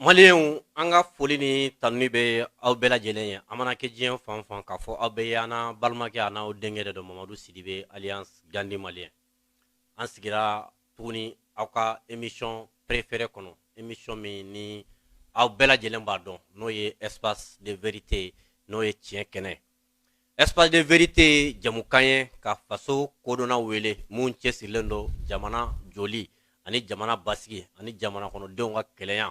Malienw an ka foli ni tanuni bɛ aw bɛɛ lajɛlen ye aw mana kɛ diɲɛ fan o fan k'a fɔ aw bɛɛ ye aw n'aw balimakɛ aw n'aw denkɛ de don Mamadu Sidibe alias Gandi Malien an sigira tuguni aw ka émission préférée kɔnɔ émission min ni aw bɛɛ lajɛlen b'a dɔn n'o ye espace de vérité n'o ye tiɲɛ kɛnɛ. Espace de vérité ye jɛmukan ye ka faso kodɔnna wele minnu cɛsirilen don jamana jɔli ani jamana basigi ani jamana kɔnɔdenw ka kelenya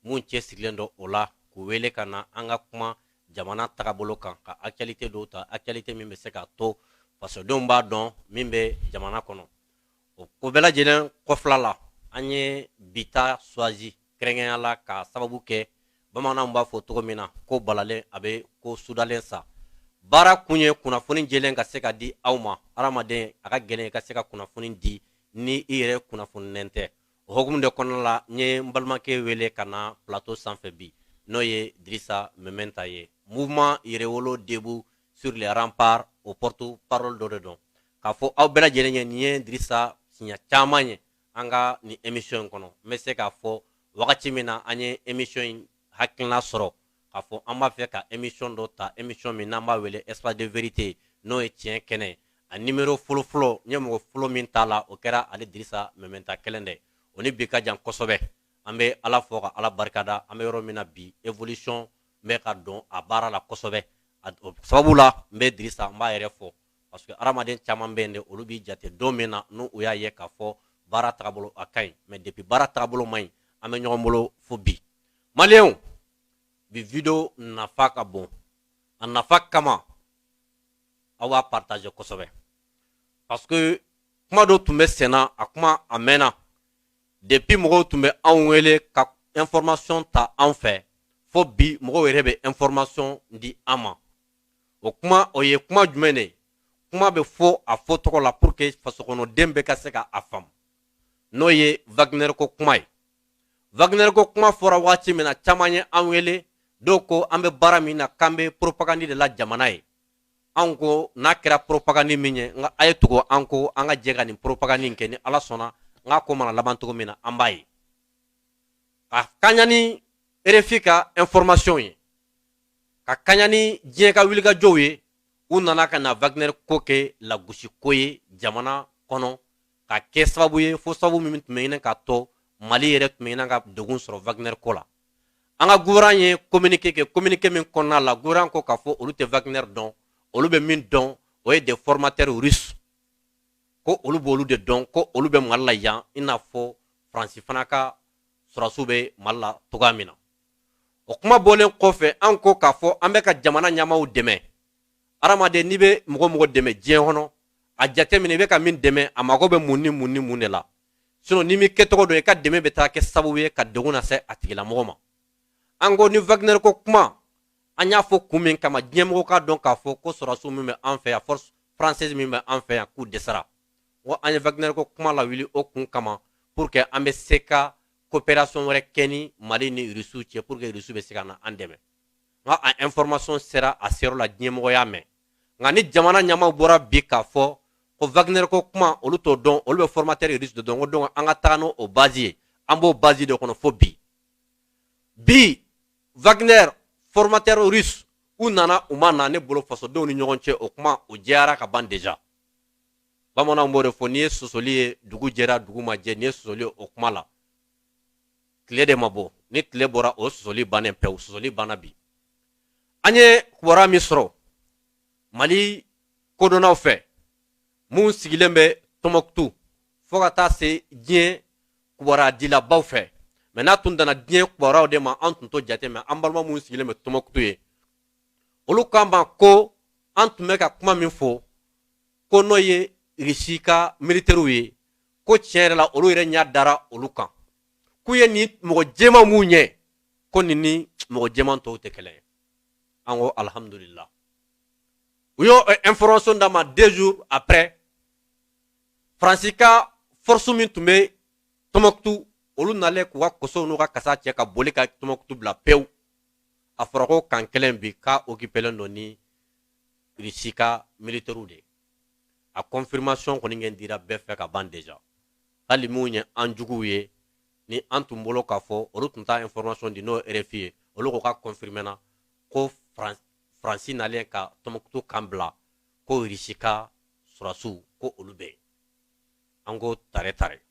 minnu cɛsirilen don o la k'u wele ka na an ka kuma jamana tagabolo kan ka actualité dɔw ta actualité min bɛ se k'a to fasodenw b'a dɔn min bɛ jamana kɔnɔ o ko bɛɛ lajɛlen kɔfɛla la an ye bi ta choisi kɛrɛnkɛrɛnya la k'a sababu kɛ bamananw b'a fɔ cogo min na ko balalen a bɛ ko sudalen sa baara kun ye kunnafoni jɛlen ka se ka di aw ma adamaden a ka gɛlɛn ka se ka kunnafoni di ni i yɛrɛ kunnafoninen tɛ o hukumu de kɔnɔna la n ye n balimakɛ wele ka na plateau sanfɛ bi n'o ye dirisa mementa ye mouvement yɛrɛwolo debout sur les remparts o porte parole dɔ de don k'a fɔ aw bɛɛ lajɛlen ye nin ye dirisa siɲɛ caman ye an ka nin emission in kɔnɔ n bɛ se k'a fɔ wagati min na an ye emission in hakilina sɔrɔ k'a fɔ an b'a fɛ ka emission dɔ ta emission min n'an b'a wele espace de vérité n'o ye tiɲɛ kɛnɛ a nimero fɔlɔfɔlɔ n ye mɔgɔ fɔlɔ min t'a la o kɛra ale dirisa mɛmɛnta kelen dɛ o ni bi ka jan kosɛbɛ an bɛ ala fo ka ala barikada an bɛ yɔrɔ min na bi evolution bɛ ka don a baara la kosɛbɛ o sababu la n bɛ dirisa n b'a yɛrɛ fo parce que hadamaden caman bɛ yen de olu b'i jate don min na n'u y'a ye k'a fɔ baara tagabolo a ka ɲi mais depuis baara tagabolo man ɲi an bɛ ɲɔgɔn bolo fo bi maliyɛnw bi video nafa ka bon a nafa kama aw b'a partager kosɛbɛ parce que kuma dɔ tun bɛ senna a kuma a mɛnna depuis mɔgɔw tun bɛ anw wele ka information ta an fɛ fo bi mɔgɔw yɛrɛ bɛ information di an ma o kuma o ye kuma jumɛn de ye kuma bɛ fɔ a fɔcogo la pour que fasokɔnɔden bɛɛ ka se ka a faamu n'o ye wagner ko kuma ye wagner ko kuma fɔra waati min na caman ye an wele dɔw ko an bɛ baara min na k'an bɛ propagandi de la jamana ye anw ko n'a kɛra propagandi min ye nka a ye tugu an kɔ an ka jɛ ka nin propagandi in kɛ ni ala sɔnna n k'a ko mana laban cogo min na an b'a ye ka kɛɲɛ ni rfi ka information ye ka kaɲa ni diɲɛ ka wulikajɔw ye u nana ka na wagner ko kɛ lagosiko ye jamana kɔnɔ ka kɛ sababu ye fo sababu min tun bɛ ɲini ka to mali yɛrɛ tun bɛ ɲini ka degun sɔrɔ wagner ko la an ka gouvernement ye kominike kɛ kominike min kɔnɔna la gouvernement ko k'a fɔ olu tɛ wagner dɔn olu bɛ min dɔn o ye des formateurs russes ko olu b'olu de dɔn ko olu bɛ mali la yan i n'a fɔ faransi fana ka sɔrɔsiw bɛ mali la cogoya min na o kuma bɔlen kɔfɛ an ko k'a fɔ an bɛ ka jamana ɲɛmaaw dɛmɛ hadamaden n'i bɛ mɔgɔ mɔgɔ dɛmɛ diɲɛ kɔnɔ a jateminɛ i bɛ ka min dɛmɛ a mago bɛ mun ni mun ni mun de la sinon n'i m'i kɛcogo dɔn i ka dɛmɛ bɛ taa kɛ sababu ye ka degun lase a tigilamɔgɔ ma an ko ni wagner ko kuma an y'a fɔ kun min kama diɲɛmɔgɔ k'a dɔn k'a fɔ ko sɔrɔsiw min bɛ an fɛ yan force française min bɛ an fɛ yan k'u dɛsɛra wa an ye wagner ko kuma lawuli o kun kama pour que an bɛ se ka coopération wɛrɛ kɛ ni Mali ni Rusiw cɛ pour que Rusiw bɛ se ka na an dɛmɛ nka a information sera a seyɔrɔ la diɲɛmɔgɔ y'a mɛn nka ni jamana ɲɛmaaw bɔra bi k'a fɔ ko Wagner ko kuma olu t'o dɔn olu bɛ formateur russe de dɔn ko donc an ka taga n'o base ye an b'o base de kɔnɔ fo bi bi Wagner formateur russe u nana u ma na ne bolo fasodenw ni ɲɔgɔn cɛ o kuma o jɛyara ka ban déjà bamananw b'o de fɔ n'i ye sɔsɔli ye dugu jɛra dugu ma jɛ n'i ye sɔsɔli ye o kuma la tile de ma bɔ ni tile bɔra o sɔsɔli bannen pewu sɔsɔli banna bi an ye kibaruya min sɔrɔ mali kodɔnnaw fɛ min sigilen bɛ tɔmɔkutu fo ka taa se diɲɛ kibaruya dilabaw fɛ mais n'a tun danna diɲɛ kibaruyaw de ma an tun t'o jate mais an balima minnu sigilen bɛ tɔmɔkutu ye olu k'an ma ko an tun bɛ ka kuma min fɔ ko n'o ye rusi ka militɛriw ye ko tiɲɛ yɛrɛ la olu yɛrɛ ɲɛ dara olu kan k'u ye nin mɔgɔ jɛman minnu ye ko nin ni mɔgɔ jɛman tɔw tɛ kelen ye an ko alihamudulila u y'o eh, information d'a ma deux jours après faransi ka force min tun bɛ tɔmɔkutu olu nalen k'u ka kosow n'u ka kasa cɛ ka boli ka tɔmɔkutu bila pewu a fɔra ko camp kelen bi k'a okipelen don ni Russie ka militaires de ye a confirmation kɔni kɛ dira bɛɛ fɛ ka ban déjà hali minnu ye an juguw ye ni an tun bolo k'a fɔ olu tun t'a information di n'o RFI ye olu ko k'a confirmer na ko France nalen ka Tombouctou camp bila ko Russie ka sɔrɔdasiw ko olu bɛ yen an ko tare tare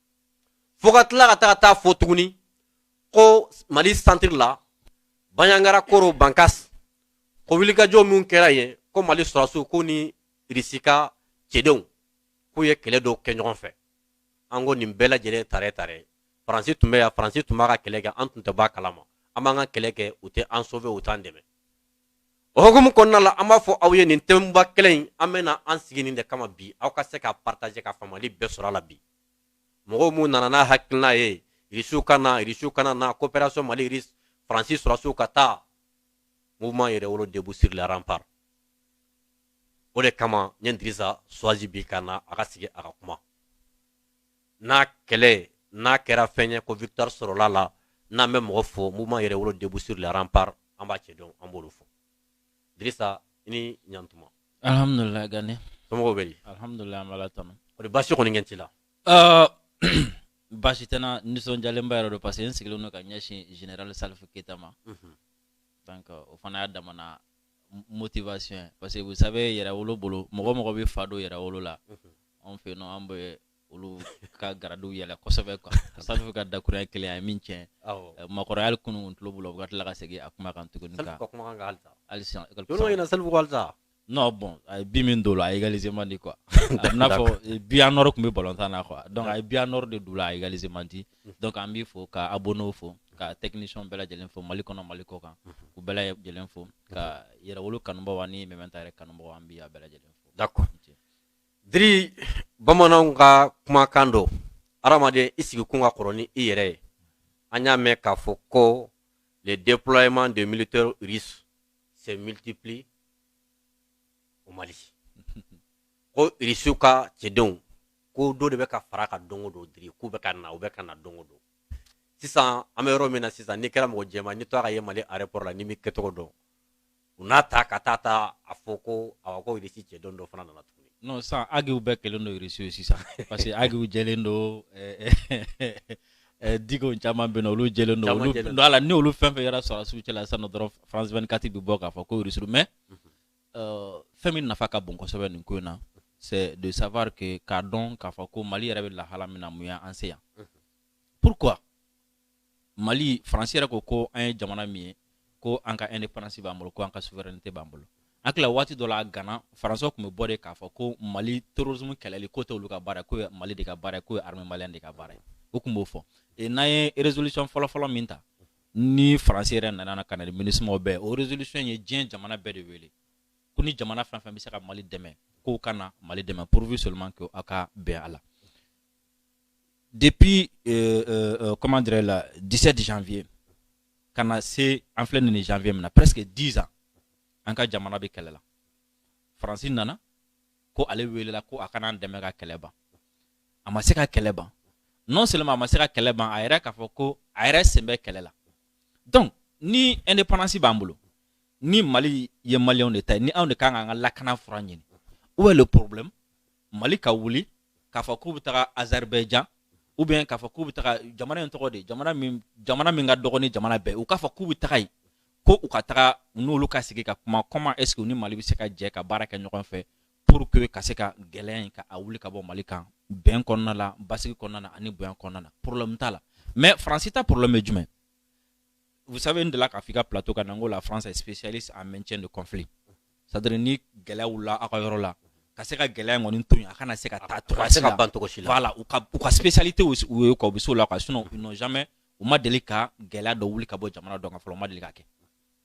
fo ka tila ka taa ka taa fɔ tuguni ko Mali centre la Bandiagara Koro Bankas ko wulikajɔ min kɛra yen ko mali sɔrɔdasiw ko ni irisi ka cɛdenw k'u ye kɛlɛ dɔw kɛ ɲɔgɔn fɛ an ko nin bɛɛ lajɛlen tare tare faransi tun bɛ yan faransi tun b'a ka kɛlɛ kɛ an tun tɛ b'a kalama an b'an ka kɛlɛ kɛ u tɛ an sauver u t'an dɛmɛ o hukumu kɔnɔna la an b'a fɔ aw ye nin thèmeba kelen in an bɛna an sigi nin de kama bi aw ka se ka partager ka faamuyali bɛɛ sɔrɔ a la bi mɔgɔw mun nana n'a hakilina ye irisiw ka na irisiw kana na coopération mali irisi faransi sɔrɔdasiw ka taa mouvement yɛrɛwolo debout sur les remparts o de kama n ye dirisa choisi bi ka na a ka sigi a ka kuma n'a kɛlɛ n'a kɛra fɛn ye ko victoire sɔrɔla la n'an bɛ mɔgɔ fo mouvement yɛrɛwolo debout sur les remparts an b'a cɛ dɔn an b'olu fo dirisa i ni ɲantuma alhamdulilayi gane somɔgɔw bɛ di alhamdulilayi an b'ala tanu o de baasi kɔni kɛ t'i la Uh, baasi tɛ n na nisɔndiyalenba yɛrɛ don parce que n sigilen don ka ɲɛsin général Salifu Keyita ma donc o fana y'a damana motivation ye parce que vous savez yɛrɛwolo bolo mɔgɔ mɔgɔ bɛ fa don yɛrɛwolo la anw fɛ yen nɔ an bɛ olu ka garadiw yɛlɛ kosɛbɛ quoi Salifu ka dakuruɲa kelen a ye min tiɲɛ makɔrɔya hali kunun kun tulo b'u la u ka tila ka segin a kuma kan tuguni ka halisa ɲina Salifu kɔ halisa non bon a ye bi min don o la a égaliser man di quoi a n'a fɔ eh, bi en or tun bɛ balontan na quoi donc a ye bi en or de don o la a égaliser man di mm. donc an b'i fo ka abonnéw fo ka technicien bɛɛ lajɛlen fo mali kɔnɔ mali kɔ kan mm-hmm. k'u bɛɛ lajɛlen fo mm-hmm. ka yɛrɛwolo kanubaaw ani mɛmɛnta yɛrɛ kanubaaw an b'i a bɛɛ lajɛlen fo d'accord diri bamananw ka kumakan don hadamaden i sigikun ka kɔrɔ ni i yɛrɛ ye an y'a mɛn k'a fɔ ko le déploiement de militaires russes se multiplie au Mali ko irisiw ka cɛdenw ko dɔ de bɛ ka fara kan don o don diri k'u bɛ ka na u bɛ ka na don o don sisan an bɛ yɔrɔ min na sisan n'i kɛra mɔgɔ jɛman n'i tora ka ye mali aéroport la n'i m'i kɛcogo dɔn u n'a ta ka taa t'a fɔ ko awa ko irisi cɛdenw dɔ fana nana tuguni non sisan agiw bɛɛ kɛlen don irisiw ye sisan parce que agiw jɛlen don eh, eh, Eh, dikɔ caman bɛ yen olu jɛlen don ala ni olu fɛn fɛn yera sɔrɔdasiw cɛla sisan dɔrɔn france 24 bɛ bɔ k'a fɔ ko rusiw mais eh, fɛn min nafa ka bon kosɛbɛ nin ko in na c'est de savoir que k'a dɔn k'a fɔ ko mali yɛrɛ bɛ lahala min na mun ye an se yan pourquoi mali faransi yɛrɛ ko ko an ye jamana min ye ko an ka indépendance b'an bolo ko an ka souveraineté b'an bolo an tila waati dɔ la gana français tun bɛ bɔ de k'a fɔ ko mali terrorisme kɛlɛli k'o tɛ olu ka baara k'o ye mali de ka baara k'o ye armée malienne de ka baara ye u tun b'o fɔ n'an ye résolution fɔlɔfɔlɔ min ta ni faransi yɛrɛ nana ka na ni minusmaw bɛɛ o résolution ye diɲɛ jamana bɛɛ de wele ko ni jamana fɛn fɛn bɛ se ka mali dɛmɛ k'o ka na mali dɛmɛ pourvu seulement que aw ka bɛn a la depuis euh, euh, euh comment dirais le 17 janvier ka na se an filɛ nin janvier min na presque 10 ans an ka jamana bɛ kɛlɛ la faransi nana ko ale welela ko a ka na an dɛmɛ ka kɛlɛ ban a ma se ka kɛlɛ ban non seulement a ma se ka kɛlɛ ban a yɛrɛ k'a fɔ ko a yɛrɛ sen bɛ kɛlɛ la donc ni indépendance b'an bolo ni mali ye maliyɛnw de ta ye ni anw de kan k'an ka lakana fura ɲini où est le problème mali ka wuli k'a fɔ k'u bɛ taga azerbaïdjan ou bien k'a fɔ k'u bɛ taga jamana in tɔgɔ de jamana min ka dɔgɔ ni jamana bɛɛ u k'a fɔ k'u bɛ taga yen ko u ka taga n'olu ka sigi ka kuma comment est ce que ni mali bɛ se ka jɛ ka baara kɛ ɲɔgɔn fɛ pour que ka se ka gɛlɛya in ka a wuli ka bɔ mali kan bɛn kɔnɔna la basigi kɔnɔna na ani bonya kɔnɔna na problème t'a la mais faransi ta problème ye jumɛn vous savez n delila k'a fɔ i ka plateau kan na n ko la france est spécialiste en maintien de conflit c'est à dire ni gɛlɛya wulila aw ka yɔrɔ la ka se ka gɛlɛya in kɔni to yen a kana se ka taa cogoya si la ban cogo si la voilà u ka u ka spécialité o ye quoi u bɛ s'o la quoi sinon ils n'ont jamais u ma deli ka gɛlɛya dɔ wuli ka bɔ jamana dɔ kan fɔlɔ u ma deli ka kɛ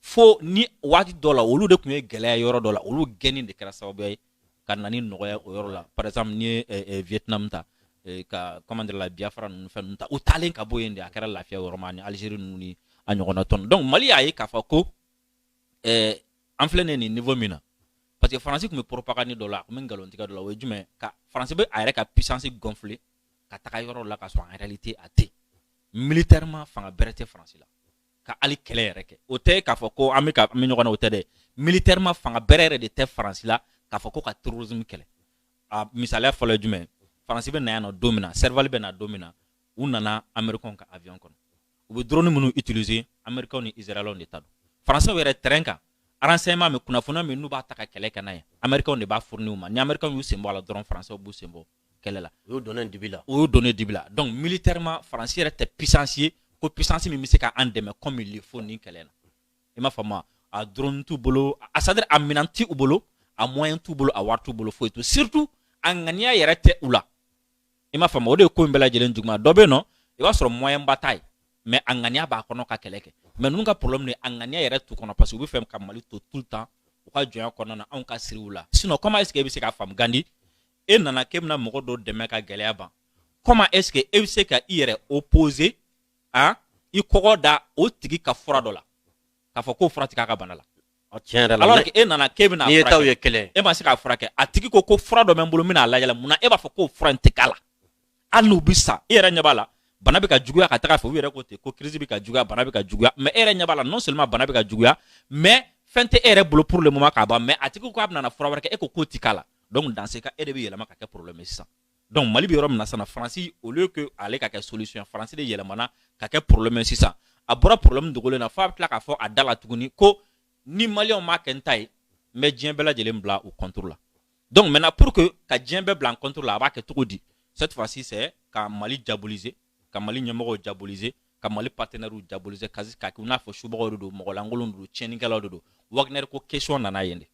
fo ni waati dɔ la olu de tun ye gɛlɛya yɔrɔ dɔ la olu gɛnni de kɛra sababuya ye ka na ni nɔgɔya o yɔrɔ la par exemple n'i ye eh, eh, Vietnam ta eh, ka comment dire la Biafra ninnu fɛn ninnu ta u taalen ka bɔ yen de a kɛra lafiya yɔrɔ ma ani Algérie ninnu ni a ɲɔgɔnna tɔn donc Mali y'a ye k'a fɔ ko an filɛ nin nin niveau min na parce que faransi tun bɛ propagande dɔ la a tun bɛ nkalontigɛ dɔ la o ye jumɛn ka faransi bɛ a yɛrɛ ka puissance gonfler ka taga yɔrɔ la ka sɔrɔ en réalité a tɛ militairement fanga bɛrɛ tɛ faransi la ka hali kɛlɛ yɛrɛ kɛ o tɛ k'a fɔ ko an bɛ ɲɔgɔn na o tɛ dɛ militairement fanga bɛrɛ yɛrɛ de tɛ faransi la k'a fɔ ko ka terrorisme kɛlɛ a misaliya fɔlɔ ye jumɛn faransi bɛ na yan nɔ don min na serval bɛ na don min na u nana américains ka avion kɔnɔ u bɛ drone minnu utiliser Américains ni Israéliens de ta don Français yɛrɛ terrain kan renseignement min kunnafoniya min n'u b'a ta ka kɛlɛ kɛ n'a ye Américains de b'a fournir u ma ni Américains y'u sen bɔ a la dɔrɔn Français b'u sen bɔ kɛlɛ la o y'u donnen dibi la o y'u donnen dibi la donc militairement France yɛrɛ tɛ puissance ye ko puissance min bɛ se ka an dɛmɛ comme il le faut nin kɛlɛ na i m'a faamu a drone t'u bolo a c'est à dire a minɛn tɛ u bolo a moyen t'u bolo a wari t'u bolo foyi t'u surtout a ŋaniya yɛrɛ tɛ u la i m'a faamu o de ye ko in bɛɛ lajɛlen juguman dɔ bɛ yen nɔ i b'a sɔrɔ moyen ba t'a ye mais a ŋaniya b'a kɔnɔ ka kɛlɛ kɛ mais ninnu ka problème de a ŋaniya yɛrɛ t'u kɔnɔ parce que u bɛ fɛ ka mali to tout le temps u ka jɔnya kɔnɔna na anw ka siri u la sinon comment est ce que e bɛ se k'a faamu gandi e nana k'e bɛna mɔgɔ dɔ dɛmɛ ka gɛlɛya ban comment est ce que e bɛ se ka i yɛrɛ opposer i kɔgɔ da o tigi ka fura dɔ la k'a fɔ k'o fura tɛ k'a ka bana la Tiɲɛ yɛrɛ la e nana k'e bɛna e ta ye kɛlɛ e ma se k'a furakɛ a tigi ko ko fura dɔ bɛ n bolo n bɛna a lajɛ munna e b'a fɔ ko fura in tɛ k'a la hali n'u bɛ sa e yɛrɛ ɲɛ b'a la bana bɛ ka juguya ka taa fɛ u yɛrɛ ko ten ko crise bɛ ka juguya bana bɛ ka juguya mais e yɛrɛ ɲɛ b'a la non seulement bana bɛ ka juguya mais fɛn tɛ e yɛrɛ bolo pour le moment k'a ban mais a tigi k'a bɛna fura wɛrɛ kɛ e k'o tɛ k'a la donc dans ce cas e de bɛ yɛlɛma ka kɛ problème sisan donc mali bɛ yɔrɔ min na sisan faransi au lieu que ale ka kɛ solution faransi de yɛlɛmana ka kɛ problème sisan a bɔra problème dogolen na f'a bɛ tila k'a fɔ a da la tuguni ko ni maliyɛnw m'a kɛ n ta ye n bɛ diɲɛ bɛɛ lajɛlen bila u contre la donc maintenant pour que ka diɲɛ bɛɛ bila an contre la a b'a kɛ cogo di cette fois ci c'est ka mali diaboliser ka mali ɲɛmɔgɔw diaboliser ka mali partenaires diaboliser ka k'a kɛ i n'a fɔ subagaw de don mɔgɔlankolon de don tiɲɛnikɛlaw de don wagner ko question nana yen de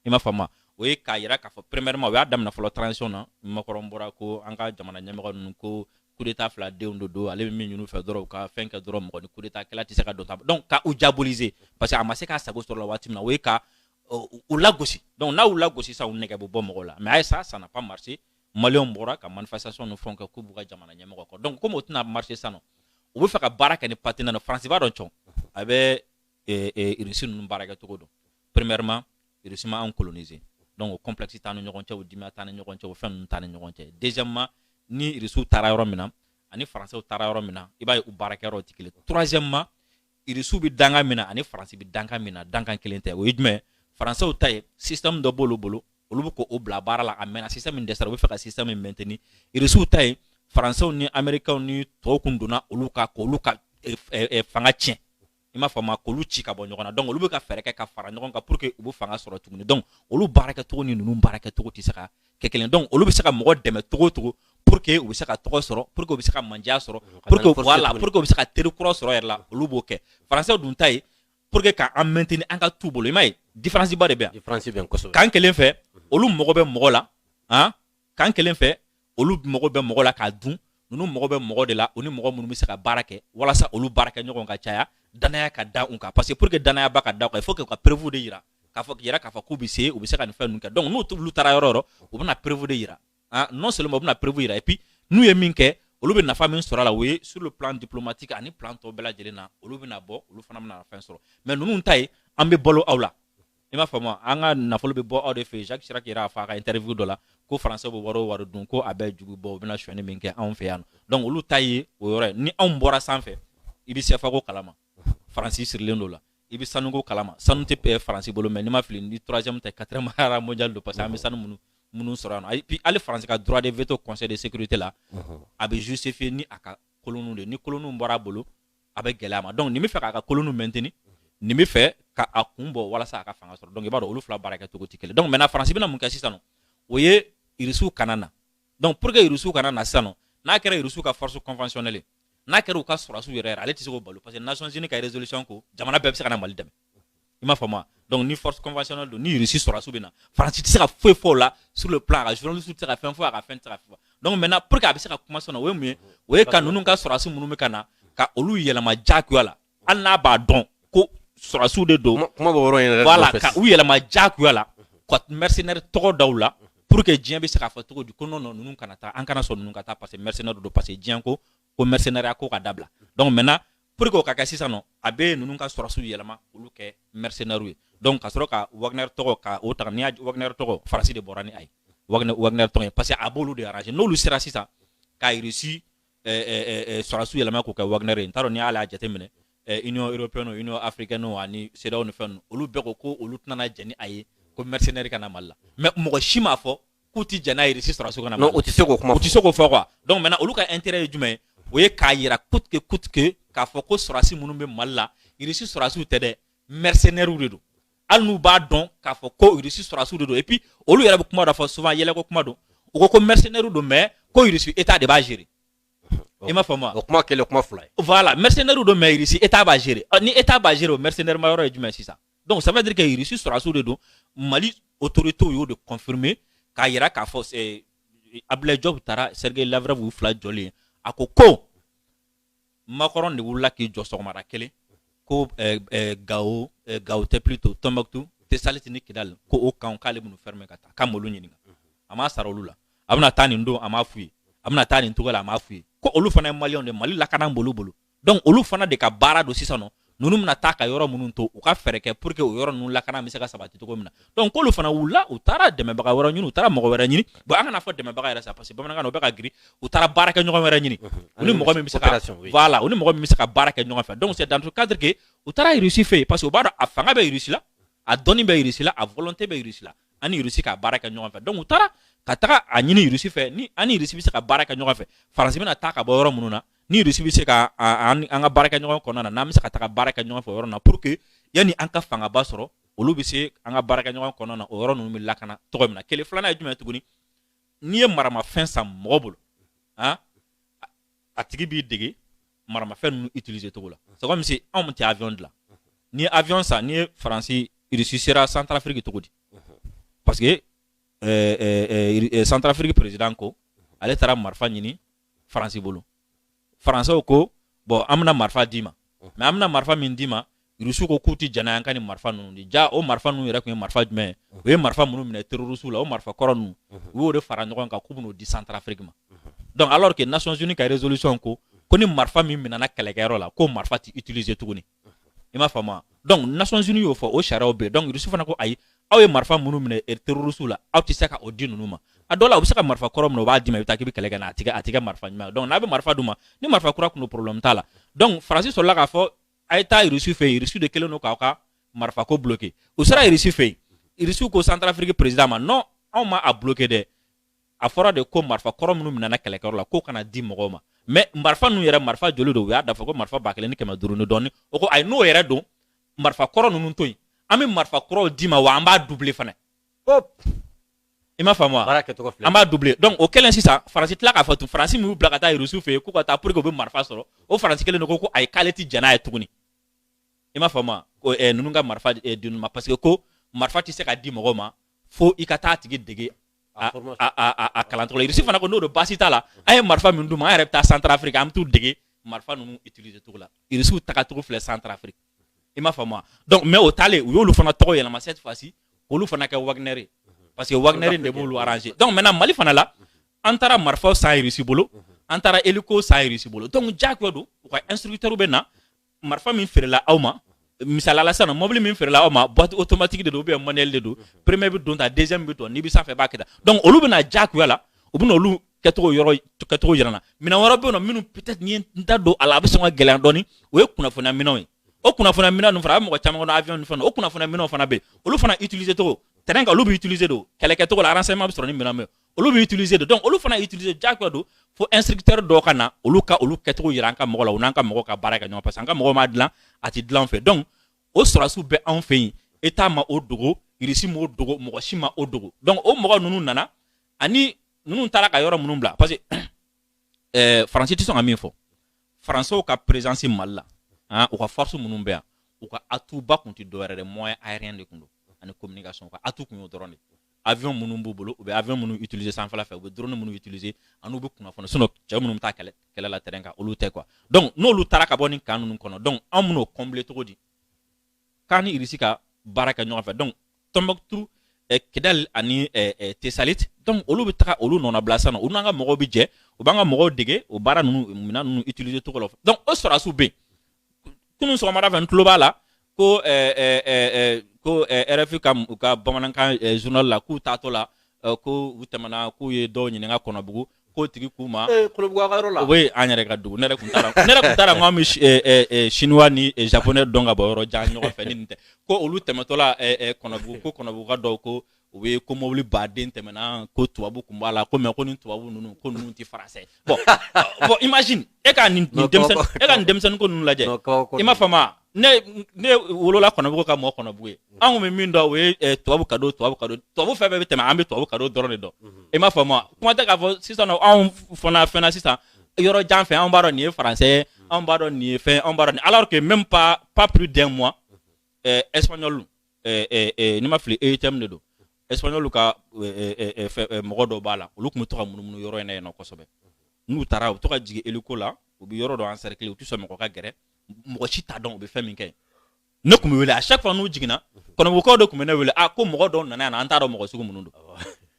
i m'a faamu o ye k'a yira k'a fɔ premièrement o y'a daminɛ fɔlɔ transition na makɔrɔn bɔra ko an ka jamana ɲɛmɔgɔ ninnu ko kudeta fila denw de don ale bɛ min ɲini u fɛ dɔrɔn u ka fɛn kɛ dɔrɔn mɔgɔ ni kudeta kɛla tɛ se ka don ta donc ka u diaboliser parce que a ma se k'a sago sɔrɔ la waati min na o ye ka u lagosi donc n'a y'u lagosi sisan u nɛgɛ bɛ bɔ mɔgɔw la mais a ye sa ça n'a pas marché maliyɛnw bɔra ka manifestation ni fɛnw kɛ k'u b'u ka jamana ɲɛmɔgɔ kɔ donc komi o tɛna marché sisan nɔ u bɛ fɛ ka baara kɛ ni partenaire faransi b'a dɔn cɔn a bɛ irisi ninnu baarakɛcogo dɔn premièrement irisi ma anw coloniser donc o complexe t'an ni ɲɔgɔn cɛ o dimi t'an ni ɲɔgɔn cɛ o fɛn ninnu t'an ni ɲɔgɔn cɛ deuxièmement ni irisiw taara yɔrɔ min na ani faransew taara yɔrɔ min na i b'a ye u baarakɛyɔrɔ tɛ kelen troisièmement irisiw bɛ dankan min na ani faransi bɛ dankan min na dankan kelen tɛ o ye jumɛn faransew ta ye système dɔ b'olu bolo olu bɛ k'o bila baara la a mɛnna système min dɛsɛra u bɛ fɛ ka système min maintenir irisiw ta ye faransew ni amerikɛnw ni tɔw kun donna olu kan k'olu ka fanga tiɲɛ i m'a faamu k'olu ci ka bɔ ɲɔgɔn na donc olu bɛ ka fɛɛrɛ kɛ ka fara ɲɔgɔn kan pour que u bɛ fanga sɔrɔ tuguni donc olu baarakɛcogo ni ninnu baarakɛcogo tɛ se ka kɛ kelen donc olu bɛ se ka mɔgɔ dɛmɛ cogo o cogo pour que u bɛ se ka tɔgɔ sɔrɔ pour que u bɛ se ka mandiya sɔrɔ pour que voilà pour que u bɛ se ka teri kura sɔrɔ yɛrɛ la olu b'o kɛ français dun ta ye pour que k'an maintenir an ka t'u bolo i m'a ye différence ba de bɛ yan différence bɛ yan kosɛbɛ kan kelen fɛ olu mago bɛ mɔgɔ la han kan kelen fɛ olu mago bɛ mɔgɔ la k'a dun ninnu mago bɛ mɔgɔ de la u ni mɔgɔ minnu bɛ se ka baara kɛ walasa olu baarakɛɲɔgɔn ka caya danaya ka da u kan parce que pour que danaya ba ka da u kan il faut que u ka preuve de yira k'a fɔ yɛrɛ k'a fɔ k'u bɛ se u bɛ se ka nin fɛn ninnu kɛ donc n'u t'olu taara yɔrɔ o yɔrɔ u bɛna preuve de yira ah non seulement u bɛna preuve yira et puis n'u ye min kɛ olu bɛ nafa min sɔrɔ a la o ye sur le plan diplomatique ani plan tɔ bɛɛ lajɛlen na olu bɛna bɔ olu fana bɛna fɛn sɔrɔ mais ninnu ta ye an bɛ balo aw la i m'a faamu an ka nafolo bɛ bɔ aw de fɛ yen jacques chirac yɛrɛ y'a fɔ a ka interview dɔ la ko faransɛ bɛ wari o wari dun ko a bɛɛ ju bɛ bɔ u bɛna sonyani min kɛ anw fɛ yan donc olu ta ye o yɔrɔ ye ni anw bɔra sanfɛ i bɛ sɛfako kalama faransi sirilen d'o la i bɛ sanuko kalama sanu tɛ eh, faransi bolo mais n'i ma fili ni troisième tɛ quatrième rang mondial don parce que an bɛ sanu minnu minnu sɔrɔ yan nɔ et puis hali faransi ka droit de veto conseil de sécurité la a bɛ justifier ni a ka koloniw de ni koloniw bɔra a bolo a bɛ gɛlɛya a ma donc nin bɛ fɛ k'a ka koloniw maintenir nin bɛ fɛ ka a kun bɔ walasa a ka fanga sɔrɔ donc i b'a dɔn olu fila baara kɛ cogo tɛ kelen donc maintenant faransi bɛna mun kɛ sisan nɔ o ye irisiw kana na donc pour que irisiw kana na sisan nɔ n'a kɛra irisiw ka force conventionnelle n'a kɛra u ka sɔrɔdasiw yɛrɛ ale tɛ se k'o bali parce que nations unies ka résolution ko jamana bɛɛ bɛ se ka na mali dɛmɛ i m'a faamu donc ni force conventionnelle don ni Russie sɔrɔdasiw bɛ na Faransi tɛ se ka foyi fɔ o la sur le plan a ka journaliste tɛ se ka fɛn fɔ a ka fɛn tɛ se ka fɔ donc maintenant pour que a bɛ se ka kuma sɔrɔ o ye mun ye o ye ka ninnu ka sɔrɔdasi minnu bɛ ka na ka olu yɛlɛma diyagoya la hali n'a b'a dɔn ko sɔrɔdasiw de don kuma b'o yɔrɔ in yɛrɛ voilà ka u yɛlɛma diyagoya la ka mercenaire tɔgɔ da u la pour que diɲɛ bɛ se k'a fɔ cogo di ko non non ninnu kana taa an kana sɔn ninnu ka taa parce que mercenaire don parce que diɲɛ ko ko mercenariat ko ka dabila donc maintenant pour que o ka kɛ sisan nɔ a bɛ ninnu ka sɔrɔsiw yɛlɛma olu kɛ mercenaires ye donc ka sɔrɔ ka Wagner tɔgɔ ka o ta n'i y'a Wagner tɔgɔ Faransi de bɔra ni a ye Wagner Wagner tɔgɔ ye parce que a b'olu de arranger n'olu sera sisan ka Russie sɔrɔsiw yɛlɛma k'o kɛ Wagner ye n t'a dɔn n'i y'ale a jateminɛ Union européenne Union africaine ani CEDEAO ni fɛn ninnu olu bɛɛ ko ko olu tɛna jɛn ni a ye ko mercenaires ka na Mali la mais mɔgɔ si m'a fɔ k'u tɛ jɛn n'a ye irisi sɔrɔdasiw ka na non u tɛ se k'o kuma u tɛ se k'o fɔ quoi donc maintenant olu ka intérêt ye jumɛn ye o ye k'a yira coûte que coûte que k'a fɔ ko sɔrɔdasi minnu bɛ Mali la irisi sɔrɔdasiw tɛ dɛ mercenaires de don hali n'u b'a dɔn k'a fɔ ko irisi sɔrɔdasiw de don et puis olu yɛrɛ bɛ kuma dɔ fɔ souvent yɛlɛko kuma don u ko ko mercenaires don mais ko irisi état de b'a gérer i m'a faamu wa o kuma kɛlen kuma fila ye voilà mercenaires don mais irisi état b'a gérer ni état b'a gérer o mercenaires ma yɔrɔ ye jumɛn ye sisan donc ça veut dire que irisi sɔrɔdasiw de don mali autorités y'o de confirmer k'a yira k'a fɔ eh, abdulayi jɔpu taara sergei lavrov y'u fila jɔlen ye a ko ko makɔrɔn de wulila k'i jɔ sɔgɔmada kelen ko eh, eh, gawo eh, gawo tɛ plutôt tombouctou tessalit ni kidal ko o camp k'ale bɛn'u fermer ka taa k'a m'olu ɲininka a m'a sara olu la a bɛna taa nin don a m'a f'u ye a bɛna taa nin cogo la a m'a f'u ye ko olu fana ye maliyɛnw de mali lakana b'olu bolo donc olu fana de ka baara don sisan nɔ ninnu bɛna taa ka yɔrɔ minnu to u ka fɛɛrɛ kɛ pour que o yɔrɔ ninnu lakana bɛ se ka sabati cogo min na donc k'olu fana wulila u taara dɛmɛbaga wɛrɛ ɲini u taara mɔgɔ wɛrɛ ɲini bon an kana fɔ dɛmɛbaga yɛrɛ sa parce que bamanankan na o bɛ ka girin u taara baarakɛɲɔgɔn wɛrɛ ɲini u ni mɔgɔ min bɛ se ka voilà u ni mɔgɔ min bɛ se ka baara kɛ ɲɔgɔn fɛ donc c'est dans ce cadre que u taara Russie fɛ yen parce que u b'a dɔn a fanga bɛ Russie la a dɔnni bɛ Russie la a volonté bɛ Russie la an ni Russie ka baara kɛ ɲɔgɔn fɛ donc u taara ka taga a ɲini Russie fɛ ni an ni Russie bɛ se ka baara kɛ ɲɔgɔn fɛ Faransi bɛna taa ka bɔ yɔrɔ minnu na ni rusi bɛ se ka an ka baarakɛɲɔgɔn kɔnɔna na n'an bɛ se ka taga baara kɛ ɲɔgɔn fɛ yɔrɔ na pour que yanni an ka fangaba sɔrɔ olu bɛ se an ka baarakɛɲɔgɔn kɔnɔna na o yɔrɔ ninnu bɛ lakana cogo min na kelen filanan ye jumɛn tuguni n'i ye maramafɛn san mɔgɔ bolo ah a tigi b'i dege maramafɛn ninnu utiliser cogo la c'est comme si anw tɛ avion dilan n'i ye avion san n'i ye faransi irisi sera santarafiriki cogo di parce que eh, eh, eh, eh, santarafiriki président ko ale taara marifa ɲini faransi bolo faransɛw ko bon an bɛna marifa d'i ma mais an bɛna marifa min d'i ma rusi ko k'u tɛ jɛn n'a ye an ka nin marifa ninnu di jaa o marifa ninnu yɛrɛ tun ye marifa jumɛn ye u ye marifa minnu minɛ terroristes la o marifa kɔrɔ ninnu u y'o de fara ɲɔgɔn kan k'u bɛn'o di santarafiriki ma donc alors que nations unies ka résolution ko ko ni marifa min minɛna kɛlɛkɛyɔrɔ la k'o marifa tɛ utiliser tuguni i m'a faamu donc nations unies y'o fɔ o sariyaw bɛ donc irisi fana ko ayi aw ye marifa minnu minɛ er, terrorisiw la aw tɛ se ka o di ninnu ma a dɔw la u bɛ se ka marifa kɔrɔ minɛ u b'a d'i ma i bɛ taa k'i bɛ kɛlɛ kɛ n'a ye a tɛ kɛ marifa ɲuman donc n'a bɛ marifa d'u ma ni marifa kura tun don problème t'a la donc faransi sɔrɔla k'a fɔ a ye taa irisi fɛ yen irisi de kɛlen don k'aw ka marifa ko bloqué u sera irisi fɛ yen irisi ko santarafiriki président ma non anw ma a bloqué dɛ a fɔra de ko marifa kɔrɔ minnu minɛna kɛlɛkɛyɔrɔ la k'o kana di mɔgɔw ma mais marifa ninnu yɛrɛ marifa joli don u y'a da fɔ ko marifa ba kelen ni kɛmɛ duuru ni dɔɔni o ko ayi n'o yɛrɛ don marifa kɔrɔ ninnu to yen an bɛ marifa kuraw d'i ma wa an b'a doubler fana i m'a faamu wa an b'a doubler donc o kɛlen sisan faransi tila k'a fɔ tun faransi min y'u bila ka taa irisiw fɛ yen k'u ka taa pour que u bɛ marifa sɔrɔ o faransi kelen de ko ko ayi k'ale tɛ jɛn n'a ye tuguni i m'a faamu wa ko eh, ninnu ka marifa eh, di ninnu ma parce que ko marifa tɛ se ka di mɔgɔw ma fo i ka taa tigi dege a kalancogo la irisi fana ko n'o don baasi t'a la an ye marifa min d'u ma an yɛrɛ bɛ taa santarafiriki an bɛ t'u dege marifa ninnu utiliser cogo la irisiw tagacogo filɛ santarafiriki i m'a faamu wa donc mais o taalen u y'olu fana tɔgɔ yɛlɛma cette fois ci k'olu fana kɛ wagner ye parce que wagner de b'olu arranger donc maintenant mali fana la an taara marifaw san irisi bolo an taara hélico san irisi bolo donc diyagoya don u ka instructeurs bɛ na marifa min feerela aw ma misalala sisan mɔbili min feerela aw ma boîte automatique de don ou bien manuel de don premier bɛ don tan deuxième bɛ don n'i bɛ sanfɛ b'a kɛ tan donc olu bɛna diyagoya la u bɛna olu kɛcogo yɔrɔ kɛcogo yira an na minɛn wɛrɛ bɛ yen nɔ minnu peut-être ni n ye n da don a la a bɛ sɔn ka gɛlɛya dɔɔni o ye kunnafoniya minɛnw ye o kunnafoniya minɛn ninnu fana a bɛ mɔgɔ caman kɔnɔ avion ni fɛn o kunnafoniya minɛnw fana bɛ yen olu fana utiliser cogo terrain kan olu bɛ utiliser de o kɛlɛkɛcogo la renseignement bɛ sɔrɔ ni minɛn min ye olu bɛ utiliser de donc olu fana utiliser diyagoya don fo instructeur dɔw ka na olu ka olu kɛcogo yira an ka mɔgɔ la u n'an ka mɔgɔw ka baara kɛ ɲɔgɔn parce que an ka mɔgɔw m'a dilan a tɛ dilan an fɛ donc o sɔrɔdasiw bɛ anw fɛ yen état ma o dogo irisi m'o dogo mɔgɔ si ma o dogo donc o mɔgɔ ninnu nana ani ninnu taara ka yɔrɔ minnu bila parce que ɛɛ eh, faransi tɛ sɔn ka min fɔ faransiw ka présence mali la ah, u ka force minnu bɛ yan u ka atout ba tun tɛ dɔwɛrɛ dɛ moyen aérien de tun don ani communication u ka atout tun y'o dɔrɔn de avion minnu b'u bolo u bɛ avion minnu utiliser sanfɛla fɛ u bɛ drone minnu utiliser an'u bɛ kunnafoni sinon cɛ minnu bɛ taa kɛlɛ kɛlɛ la terrain kan olu tɛ quoi donc n'olu taara ka bɔ nin camp ninnu kɔnɔ donc anw bɛn'o combler cogo di k'an ni Irisi ka baara kɛ ɲɔgɔn fɛ donc Tombouctou eh, Kidal ani eh, eh, Tessalit donc olu bɛ taga olu nɔnabila sisan olu n'an ka mɔgɔw bɛ jɛ u b'an ka mɔgɔw dege o baara ninnu minɛn ninnu utiliser cogo la donc o sɔrɔdasiw bɛ yen kunun sɔgɔmada fɛ n tulo b'a la ko eh, eh, eh, eh, ko eh, rfi ka u ka bamanankan eh, journal la k'u taatɔ la eh, ko u tɛmɛna k'u ye dɔw ɲininka kɔnɔbugu k'o tigi k'u ma ee kɔnɔbugu a ka yɔrɔ la o ye an yɛrɛ ka dugu ne yɛrɛ tun t'a la ne yɛrɛ tun t'a la n ko an bɛ si- eh, eh, eh, chinois ni eh, japonais dɔn ka bɔ yɔrɔ jan ɲɔgɔn fɛ ni nin tɛ ko olu tɛmɛtɔ la eh, eh, kɔnɔbugu ko kɔnɔbuguka dɔw ko u bɛ ko mobili baden tɛmɛna ko tubabu tun b'a la ko mais ko ni tubabu ninnu ko ninnu tɛ français bon bon imagine e ka nin e ka nin denmisɛnnin ko ninnu lajɛ i m'a faamu ne ne wolola kɔnɔbugu ka mɔ kɔnɔbugu yen mm-hmm. anw bɛ min dɔn o ye eh, tubabu cadeau tubabu cadeau tubabu fɛn bɛɛ bɛ tɛmɛ an bɛ tubabu cadeau dɔrɔn de dɔn mm-hmm. i m'a faamu kuma tɛ k'a fɔ sisan anw fana fɛnna sisan yɔrɔ jan fɛ anw b'a dɔn nin ye français ye mm-hmm. anw b'a dɔn nin ye fɛn anw b'a dɔn nin alors que même pas pas plus d'un mois eh, espagnol ni ma fili EUTM de don espagnol ka mɔgɔ dɔw b'a la olu tun bɛ to ka munumunu yɔrɔ in na yen nɔ kosɛbɛ n'u taara u bɛ to ka jigin hélico la u bɛ yɔrɔ dɔ encercler u tɛ sɔn mɔgɔ ka gɛrɛ mɔgɔ si t'a dɔn u bɛ fɛn min kɛ ne tun bɛ wele à chaque fois n'u jiginna kɔnɔbugukaw de tun bɛ ne wele a ko mɔgɔ dɔw nana yan an t'a dɔn mɔgɔ sugu minnu don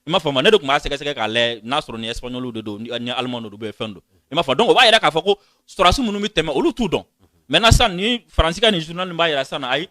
i m'a faamu ne de tun b'a sɛgɛsɛgɛ k'a lajɛ n'a sɔrɔ ni espagnol de don ni allemand don ou fɛn don i m'a faamu donc o b'a jira k'a fɔ ko sɔrɔsi minnu bɛ tɛmɛ olu t'u dɔn maintenant sisan ni faransi ka nin journal b'a jira sisan ayi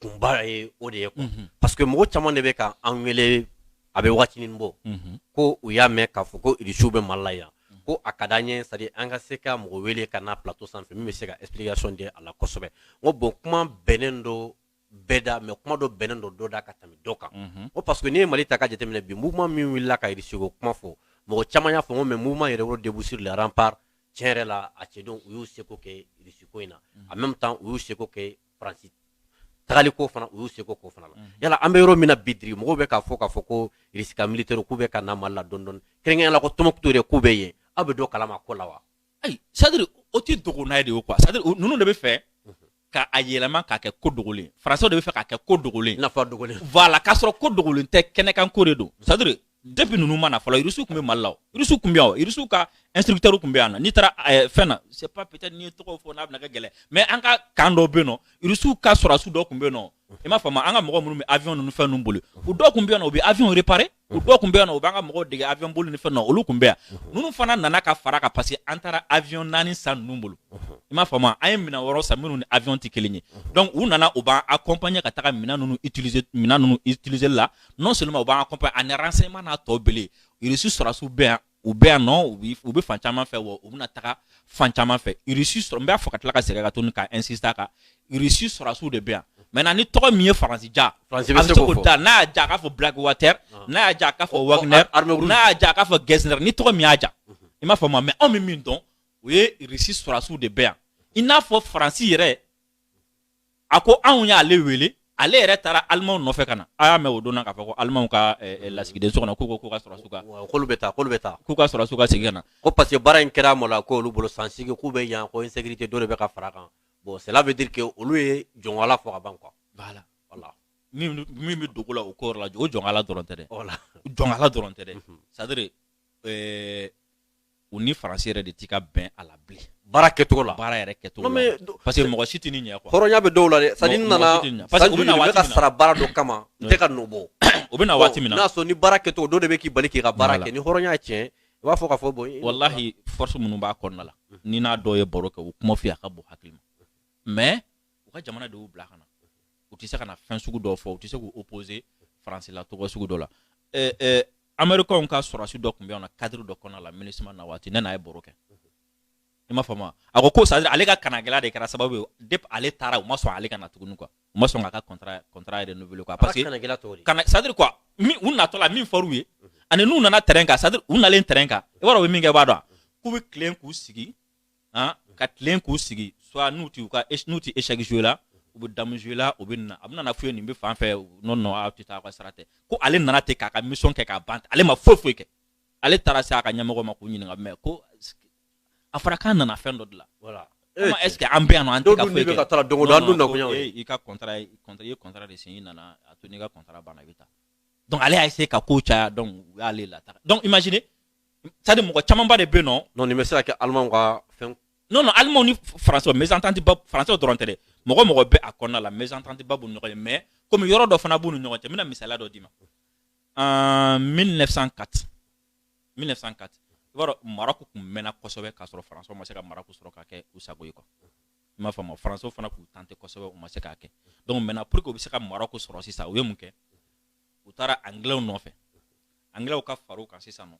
kunba ye o de ye quoi unhun parce que mɔgɔ caman de bɛ ka an wele a bɛ waatinin bɔ unhun ko u y'a mɛn k'a fɔ ko irisiw bɛ mali la yan ko a ka d'an ye c'est à dire an ka se ka mɔgɔ wele ka na plateau sanfɛ min bɛ se ka explication di a la kosɛbɛ n ko bon kuma bɛnnen don bɛɛ da mais kuma dɔ bɛnnen don dɔ da ka tɛmɛ dɔ kan unhun n ko parce que n'i ye mali ta ka jateminɛ bi mouvement min wulila ka irisiko kuma fɔ mɔgɔ caman y'a fɔ n ko mais mouvement yɛrɛwolo debout sur les remparts tiɲɛ yɛrɛ la a cɛdenw u y'u seko kɛ irisiko in na en même temps u y'u seko kɛ faransi tagali ko fana u y'u seko k'o fana la mhm. yala an bɛ yɔrɔ min na bi diri mɔgɔw bɛ k'a fɔ k'a fɔ ko irisi ka militaire k'u bɛ ka na mali la dɔɔni dɔɔni kɛrɛnkɛrɛnnenya la ko tɔnbukutu yɛrɛ k'u bɛ yen aw bɛ dɔ kalama ko la wa ayi c'est à dire o tɛ dogo n'a ye de ye quoi c'est à dire ninnu de b'a fɛ mhm. ka a yɛlɛma k'a kɛ ko dogolen faransiw de b'a fɛ k'a kɛ ko dogolen nafa dogolen voilà k'a sɔrɔ ko dogolen tɛ kɛnɛkanko de don c'est à dire depuis ninnu ma na fɔlɔ irisiw tun bɛ mali la o irisiw tun bɛ yan o irisiw ka instructeur tun bɛ yan nɔ n'i taara eh, fɛn na c'est pas peut-être n'i ye tɔgɔw fɔ n'a bɛna kɛ gɛlɛn mais an ka camp dɔw bɛ yen nɔ irisiw ka sɔrɔdasi dɔw tun bɛ yen nɔ i m'a faamu an ka mɔgɔ minnu bɛ avion ninnu fɛn ninnu boli u dɔw tun bɛ yan nɔ u bɛ avion réparer u dɔw tun bɛ yan nɔ u b'an ka mɔgɔw dege avion boli ni fɛn na olu tun bɛ yan ninnu fana nana ka fara kan parce que an taara avion naani san ninnu bolo i m'a faamu an ye minɛn wɔɔrɔ san minnu ni avion tɛ kelen ye donc u nana u b'an accompagner ka taga minɛn ninnu utiliser minɛn ninnu utiliser la non seulement u b'an accompagner ani renseignement n'a tɔ bɛɛ irisi sɔrɔsiw bɛ yan u bɛ yan nɔ u bi u bɛ fan caman fɛ wa u bɛna taga fan caman fɛ irisi sɔrɔ n b'a fɔ ka tila ka segin ka tuguni ka insister a kan irisi sɔrɔsiw de bɛ yan maintenant ni tɔgɔ min ye faransi ja a bɛ se k'o da n'a y'a ja a k'a fɔ blackwater ah. n'a y'a ja a k'a fɔ wagner n'a y'a ja a k'a fɔ gesner ni tɔgɔ min y'a ja mhm. i m'a faamu mais anw bɛ min dɔn o ye irisi sɔrɔsiw de bɛ yan i n'a fɔ faransi yɛrɛ a ko anw y'ale wele ale yɛrɛ taara alimanw nɔfɛ ka na a y'a mɛn o don na k'a fɔ ko alimanw ka eh, eh, lasigiden so kɔnɔ k'u ko k'u ka sɔrɔdasiw ka wa, k'olu bɛ taa k'olu bɛ taa k'u ka sɔrɔdasiw ka segin ka na ko parce que baara in kɛra mɔ la ko olu bolo san seegin k'u bɛ yan ko insécurité dɔ de bɛ ka fara kan bon cela veut dire que olu ye jɔnwala fɔ ka ban quoi voilà voilà min min bɛ dogo la o ko yɔrɔ la o jɔnkala dɔrɔn tɛ dɛ voilà jɔnkala dɔrɔn tɛ dɛ Mhm. c'est à dire eh, u ni faransi yɛrɛ de tɛ ka bɛn a la bilen baara kɛcogo la baara yɛrɛ kɛcogo la parce que mɔgɔ si tɛ ni ɲɛ quoi hɔrɔnya bɛ dɔw la dɛ c'est à dire nana parce que u bɛna waati ka sara baara dɔ kama n tɛ ka nɔ bɔ o bɛna waati min na n'a sɔrɔ ni baara kɛcogo dɔ de bɛ k'i bali k'i ka baara kɛ ni hɔrɔnya ye tiɲɛ i b'a fɔ k'a fɔ bon walahi force minnu b'a kɔnɔna la n'i n'a dɔw ye baro kɛ u kuma f'i a ka bon hakili ma mais u ka jamana de y'u bila ka na u tɛ se ka na fɛn sugu dɔw fɔ u tɛ se k'u opposer faransi la cogo sugu dɔ la américains ka sɔrɔdasi dɔ tun bɛ na cadre dɔ kɔnɔna la MINUSMA na waati ne n'a ye baro kɛ i m'a faamu a ko ko c'est à dire ale ka kanagɛlɛya de kɛra sababu ye depuis ale taara u ma sɔn ale ka na tuguni quoi u ma sɔn k'a ka contrat contrat renouveler quoi parce que kana c'est à dire quoi min u natɔ la min fɔr'u ye mhm. ani n'u nana terrain kan c'est à dire u nalen terrain kan i b'a dɔn u bɛ min kɛ i b'a dɔn k'u bɛ tilen k'u sigi han, ka tilen k'u sigi soit n'u tɛ u ka n'u tɛ échec jouer la u bɛ dame jouer la u bɛ nin na a bɛna na f'u ye nin bɛ fan fɛ non non aw tɛ taa aw ka sira tɛ ko ale nana ten k'a ka mission kɛ k'a ban ale ma foyi foyi kɛ ale taara se a ka ɲɛmɔgɔ ma k'u ɲininka mais ko a fɔra k'an nana fɛn dɔ de la voilà Comment est-ce que an bɛ yan nɔ an tɛ ka foyi kɛ? ka taa don o don an dun nakun y'o ye. I ka contrat ye contrat i ye contrat de signer i nana a to n'i ka contrat banna i bɛ taa donc ale y'a essayer ka kow caya donc u y'ale lataa donc imaginez c'est à dire mɔgɔ camanba de bɛ yen nɔ non nin bɛ se ka kɛ alimanw ka fɛn non non alimanw ni faransiw mésentente ba faransiw dɔrɔn tɛ dɛ mɔgɔ mɔgɔ bɛ a kɔnɔna la mésentente ba b'u ni ɲɔgɔn cɛ mais komi yɔrɔ dɔ fana b'u ni ɲɔgɔn cɛ n bɛna misaliya dɔ d'i ma en 1904 1904 i b'a dɔn Maroc tun mɛnna kosɛbɛ k'a sɔrɔ faransiw ma se ka Maroc sɔrɔ k'a kɛ u sago ye quoi i m'a faamu faransiw fana k'u tenter kosɛbɛ u ma se k'a kɛ donc maintenant pour que u bɛ se ka Maroc sɔrɔ sisan u ye mun kɛ u taara anglɛw nɔfɛ anglɛw ka far'u kan sisan nɔ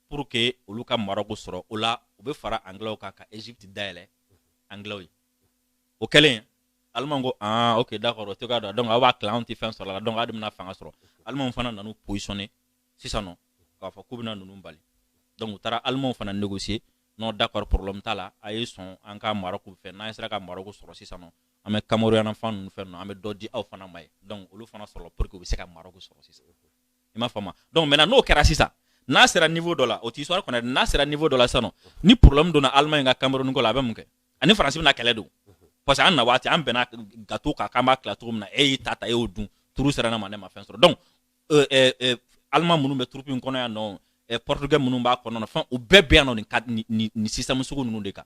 pour que olu ka Maroc sɔrɔ o la u bɛ fara anglɛw kan ka Égypte dayɛlɛ anglɛw ye o kɛlen alimanw ko ah ok d'accord o tɛ ka dɔn donc aw b'a tilan anw tɛ fɛn sɔrɔ la donc aw de bɛna fanga sɔrɔ alimanw fana nan'u positionner sisan nɔ k'a fɔ k'u bɛna ninnu bali donc u taara alimanw fana négocier non d'accord problème t'a la a ye sɔn an ka Maroc fɛn n'an sera ka Maroc sɔrɔ sisan nɔ an bɛ Cameroun yan na fan ninnu fɛn ninnu an bɛ dɔ di aw fana ma ye donc olu fana sɔrɔla pour que u bɛ se ka Maroc sɔrɔ sisan i m'a faamu donc maintenant n'o kɛra sisan n'a sera niveau dɔ la o tɛ histoire kɔnɔ n'a sera niveau dɔ la sisan ni problème donna Allemagne ka Cameroun ko la a bɛ mun kɛ a ni France bɛna kɛlɛ don parce que an na waati an bɛnna gâteau kan k'an b'a tila cogo min na e y'i ta ta e y'o dun tour sera ne ma ne ma fɛn sɔrɔ donc euh, euh, euh, Allemands minnu bɛ troupe in kɔnɔ yan nɔ portugais minnu b'a kɔnɔ fɛn u bɛɛ bɛ yan nɔ nin système sugu ninnu de kan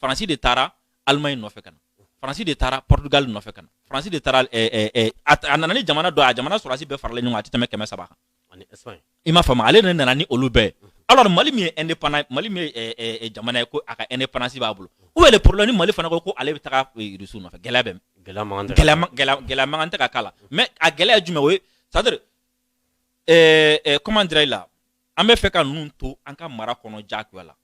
faransi de taara alimaɲi nɔfɛ ka na faransi de taara portugal nɔfɛ ka na faransi de taara eh, eh, eh, a nana ni jamana dɔ a jamana sɔrɔdasi bɛɛ faralen ɲɔgɔn kan a tɛ tɛmɛ kɛmɛ saba kan i m'a faamu ale de nana ni olu bɛɛ mhm. alors mali min ye indépendant mali min ye jamana ye ko a ka indépendance b'a bolo où est le problème ni mali fana ko ko ale bɛ taga russie nɔfɛ gɛlɛya bɛ gɛlɛya mankan tɛ ka k'a la mais a gɛlɛya ye jumɛn o ye c'est à dire comment dirais-je là an bɛ fɛ ka ninnu to an ka mara kɔnɔ jagoya la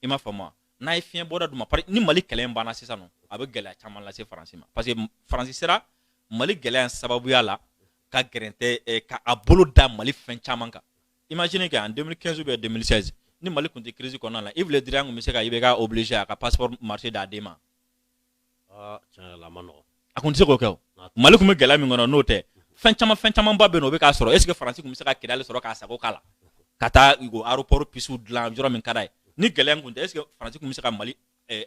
i m'a faamu wa? n'a ye fiɲɛ bɔda d'u ma pari- ni mali kɛlɛ in banna sisan nɔ a bɛ gɛlɛya caman lase faransi ma parce que m- faransi sera mali gɛlɛya in sababuya la ka gɛrɛntɛ eh, ka a bolo da mali fɛn caman kan imagine que en 2015 ou bien 2016 ni mali tun tɛ crise kɔnɔna la Yves Le Drian tun bɛ se ka IBK obligé a ka passeport marché d'a den ma a tun tɛ se k'o kɛ mali tun bɛ gɛlɛya min kɔnɔ n'o tɛ fɛn caman fɛn caman ba bɛ yen o bɛ k'a sɔrɔ est ce que faransi tun bɛ se ka kɛnɛ sɔrɔ k'a sago k'a la ka taa aéroport pistew dilan yɔrɔ min ka d'a ye ni gɛlɛya tun tɛ est ce que faransi tun bɛ se ka mali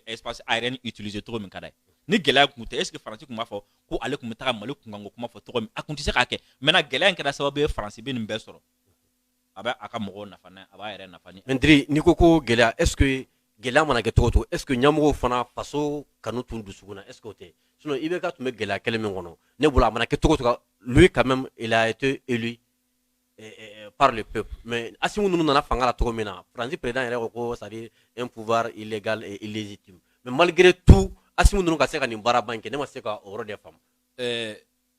espace aérien utiliser cogo min ka d'a ye ni gɛlɛya tun tɛ est ce que faransi tun b'a fɔ ko ale tun bɛ taa mali kunkanko kuma fɔ cogo min a tun tɛ se k'a kɛ mais gɛlɛya in kɛra sababu ye faransi bɛ nin bɛɛ sɔrɔ a bɛ a ka mɔgɔw nafa n'a ye, a b'a yɛrɛ nafa ni Mɛtiri n'i ko ko gɛlɛya est ce que gɛlɛya mana kɛ cogo o cogo est ce que ɲɛmɔgɔw fana faso kanu t'u dusukun na est ce que o tɛ sinon IBK tun bɛ gɛlɛya kelen min kɔnɔ ne bolo a mana kɛ cogo o cogo lui quand même il a été élu eh, eh, eh, par le peuple mais Assimi ninnu nana fanga la cogo min na Faransi président yɛrɛ ko ko c'est à dire un pouvoir illégal et illégitime mais malgré tout Assimi ninnu ka se ka nin baaraba in kɛ ne ma se ka o yɔrɔ de faamu.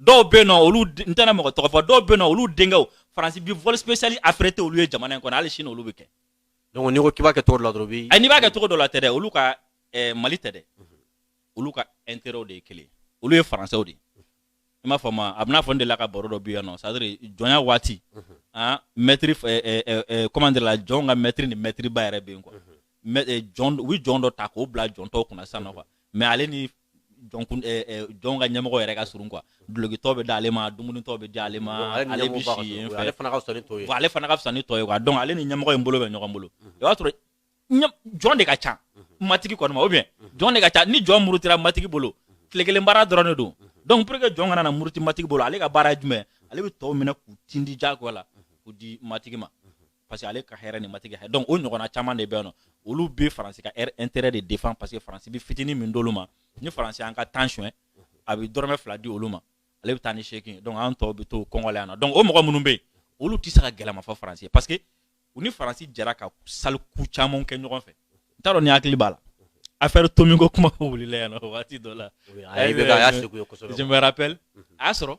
dɔw bɛ nɔ olu n tɛna mɔgɔ tɔgɔ fɔ dɔw bɛ nɔ olu denkɛw faransi bi vol spécial affrété olu ye jamana in kɔnɔ hali sini olu bɛ kɛ donc n'i ko k'i b'a kɛ cogo dɔ la dɔrɔn bi n'i b'a kɛ cogo dɔ la tɛ dɛ olu ka eh, mali tɛ dɛ olu ka intérêt de ye kelen olu ye faransɛw de ye i m'a faamu a bɛna fɔ n delila ka baro dɔ bi yan nɔ c'est à dire jɔnya waati an mɛtiri comment dire là jɔn ka mɛtiri ni mɛtiriba yɛrɛ bɛ yen quoi jɔn u bɛ jɔn dɔ ta k'o bila jɔn tɔw kunna sisan nɔ quoi mais ale ni jɔn ka ɲɛmɔgɔ yɛrɛ ka surun quoi dulokitɔ bɛ d'ale ma dumunitɔ bɛ d'ale ma ale bɛ si yen fɛ ale fana ka fisa ni tɔw ye ale fana ka fisa ni tɔw ye quoi donc ale ni ɲɛmɔgɔ in bolo bɛ ɲɔgɔn bolo i b'a sɔrɔ jɔn de ka ca matigi kɔni ma ou bien jɔn de ka ca ni jɔn murutira matigi bolo tile kelen baara dɔrɔn de don donc pour que jɔn kana na muruti matigi bolo ale ka baara ye jumɛn ale bɛ tɔw minɛ k'u tindi jagoya la k'u di matigi ma parce que ale ka hɛrɛ ni matigi hɛrɛ donc o ɲɔgɔnna caman de bɛ yen nɔ olu bɛ faransi ka hɛrɛ intérêt de défend parce que faransi bɛ fitinin min d'olu ma ni faransi y'an ka tan suɲɛ a bɛ dɔrɔmɛ fila di olu ma ale bɛ taa ni seegin ye donc an tɔw bɛ to kɔngɔ la yan nɔ donc o mɔgɔ minnu bɛ yen olu tɛ se ka gɛlɛman fɔ faransi ye parce que u ni faransi jɛra ka sale coup caman kɛ ɲɔgɔn fɛ n t'a dɔn n'i hakili b'a la affaire Tomi ko kuma wulila yan nɔ waati dɔ la je me rappelle a y'a sɔrɔ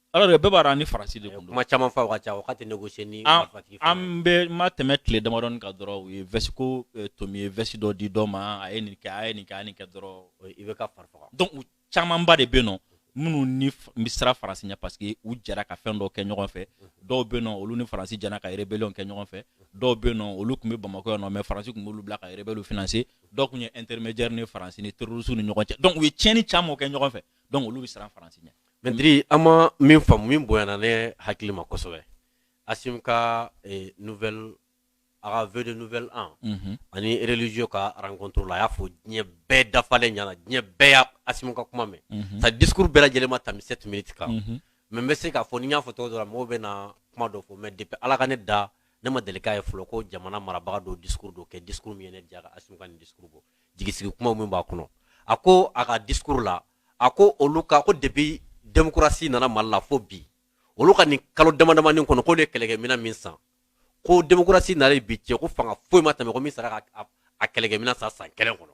Alors que bɛɛ b'a dɔn an ni France de tun don, kuma caman fɔ a ka ca o ka tɛ négocier ni marifatigi fana ye, an bɛ ma tɛmɛ tile damadɔni kan dɔrɔn u ye veste ko Tomi ye veste dɔ di dɔ ma a ye nin kɛ a ye nin kɛ a ye nin kɛ dɔrɔn IBK fari faga donc u camanba de bɛ yen nɔ minnu ni bɛ siran France ɲɛ parce que u jɛra ka fɛn dɔw kɛ ɲɔgɔn fɛ dɔw bɛ yen nɔ olu ni France jɛra ka rébellion kɛ ɲɔgɔn fɛ dɔw bɛ yen nɔ olu tun bɛ Bamakɔ yan nɔ mais France tun b'olu bila ka rébellion financer dɔw tun ye intermédiaire ni France ni terroristes ni ɲɔgɔn cɛ donc u ye tiɲɛni caman kɛ ɲɔgɔn fɛ donc olu bɛ siran France ɲɛ Mɛdi an ma min faamu min bonyayana ne hakili ma kosɛbɛ a ka n a ka v n an ani rlizo ka arankoturu la a y'a fɔ diɲɛ bɛɛ dafalen ɲɛna diɲɛ bɛɛ y' a ka kuma mɛn ka dikurun bɛɛ lajɛlen tan se tun bɛti kan mɛ bɛ se k'a fɔ n'i y'a fɔ tɔgɔ dɔrɔn mɔgɔw bɛ na kuma dɔ fɔ mɛ de bɛ ala ka ne da ne ma deli ye fɔlɔ ko jamana marabaga don di don kɛ dikurun min ne jara a ka dusu bɔ jigi sigi kuma min b'a kɔnɔ a ko a ka dikurun la a ko olu ka ko depuis démocratie nana mali la fo bi olu ka nin kalo damadamanin kɔnɔ k'olu ye kɛlɛkɛmina min san ko démocratie nalen bi cɛ ko fanga foyi ma tɛmɛ ko min sera k'a kɛlɛkɛmina san san kelen kɔnɔ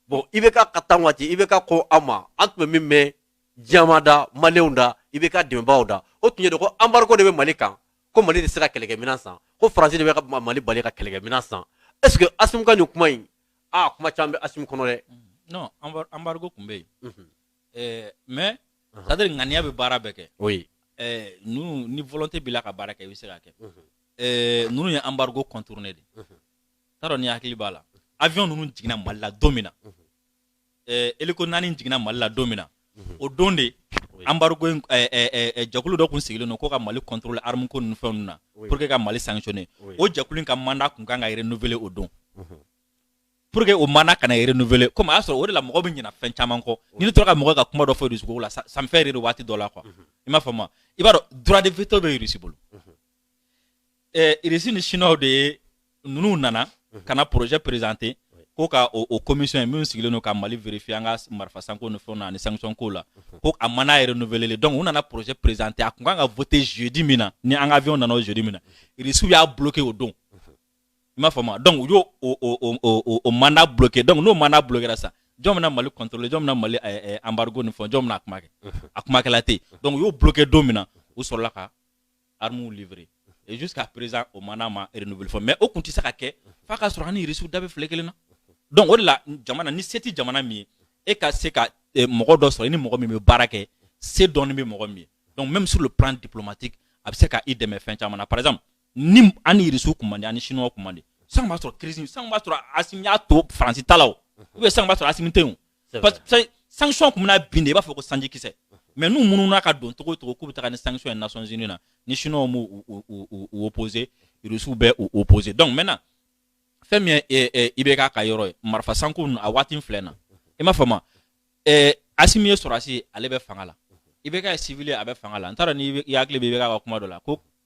bon IBK ka temps waati IBK ko an ma an tun bɛ min mɛn diɲɛma da maliyɛnw da IBK dɛmɛbaaw da o tun ye de ko embargo de bɛ mali kan ko mali tɛ se ka kɛlɛkɛmina san ko faransi de bɛ ka mali bali ka kɛlɛkɛmina san est ce que Asimi ka nin kuma in aa kuma caman bɛ Asimi kɔnɔ dɛ. Non embargo tun bɛ yen. Unhun. Ɛɛ mais c'est à dire ŋaniya bɛ baara bɛɛ kɛ. Oui. Ɛɛ ninnu ni volonté b'i la ka baara kɛ i bɛ se k'a kɛ. Unhun. Ɛɛ ninnu ye embargo contourner de. Unhun. N t'a dɔn n'i hakili b'a la avion ninnu jiginna Mali la don min na. Unhun. eh, hélico naani jiginna mali la don min na mhm. o don de embargo eh, eh, jakulu dɔ tun sigilen don ko ka mali contrôler arme ko ninnu fɛnw na pour que ka mali sanctionner o jakulu in ka mandat tun kan ka renouveler o don mhm. pour que o mandat kana renouveler comme a y'a sɔrɔ o de la mɔgɔ bɛ ɲina fɛn caman kɔ ni ne tora ka mɔgɔ ka kuma dɔ fɔ rusi ko la ça me fait rire waati dɔ la quoi mhm. i m'a faamu i b'a dɔn droit de veto bɛ rusi bolo eh, irisi ni chinois de ye ninnu nana mhm. ka na projet présenter ko ka o, o commission min sigilen don ka mali vérifier an ka marifa sanko ni fɛnw na ani sanction ko la mhm. ko a mandat renouveler donc u nana projet présenter a kun kan ka voter jeudi min na ni an ka avion nana o jeudi min na irisiw y'a bloquer o don mhm. i m'a faamu donc u y'o o, o, o, o mandat bloquer donc n'o mandat bloquera sa jɔn bɛna mali contrôler jɔn bɛna mali eh, eh, embargo ni fɛn jɔn bɛna a kuma kɛ a kuma kɛla tɛ yen donc u y'o bloquer don min na u sɔrɔla ka armes livrer et jusqu'à présent o mandat ma renouveler fɔ mais o kun tɛ se ka kɛ f'a ka sɔrɔ an ni Irisiw da bɛ file kelen na donc o de la jamana ni se tɛ jamana min ye e ka se ka eh, mɔgɔ dɔ sɔrɔ i ni mɔgɔ min bɛ baara kɛ se dɔɔni bɛ mɔgɔ min ye donc même sur le plan diplomatique a bɛ se ka i dɛmɛ fɛn caman na par exemple ni an ni Irisiw kun man di an ni Chinois kun man di sisan b'a sɔrɔ crise sisan b'a sɔrɔ Assimi y'a to Faransi ta la o ou bien sisan b'a sɔrɔ Assimi tɛ yen o sanction kun bɛna bin de i b'a fɔ ko sanji kisɛ mais n'u mununa ka don cogo cogo k'u bɛ taga ni sanction ye nations unies na ni chinois m'u opposé rusiw bɛ u opposé donc maintenant fɛn min ye IBK ka yɔrɔ ye marifa sanko a waati filɛ na i m'a faamu Asimi ye sɔrɔdasi ale bɛ fanga la IBK ye civil a bɛ fanga la n t'a dɔn n'i hakili bɛ IBK ka kuma dɔ la ko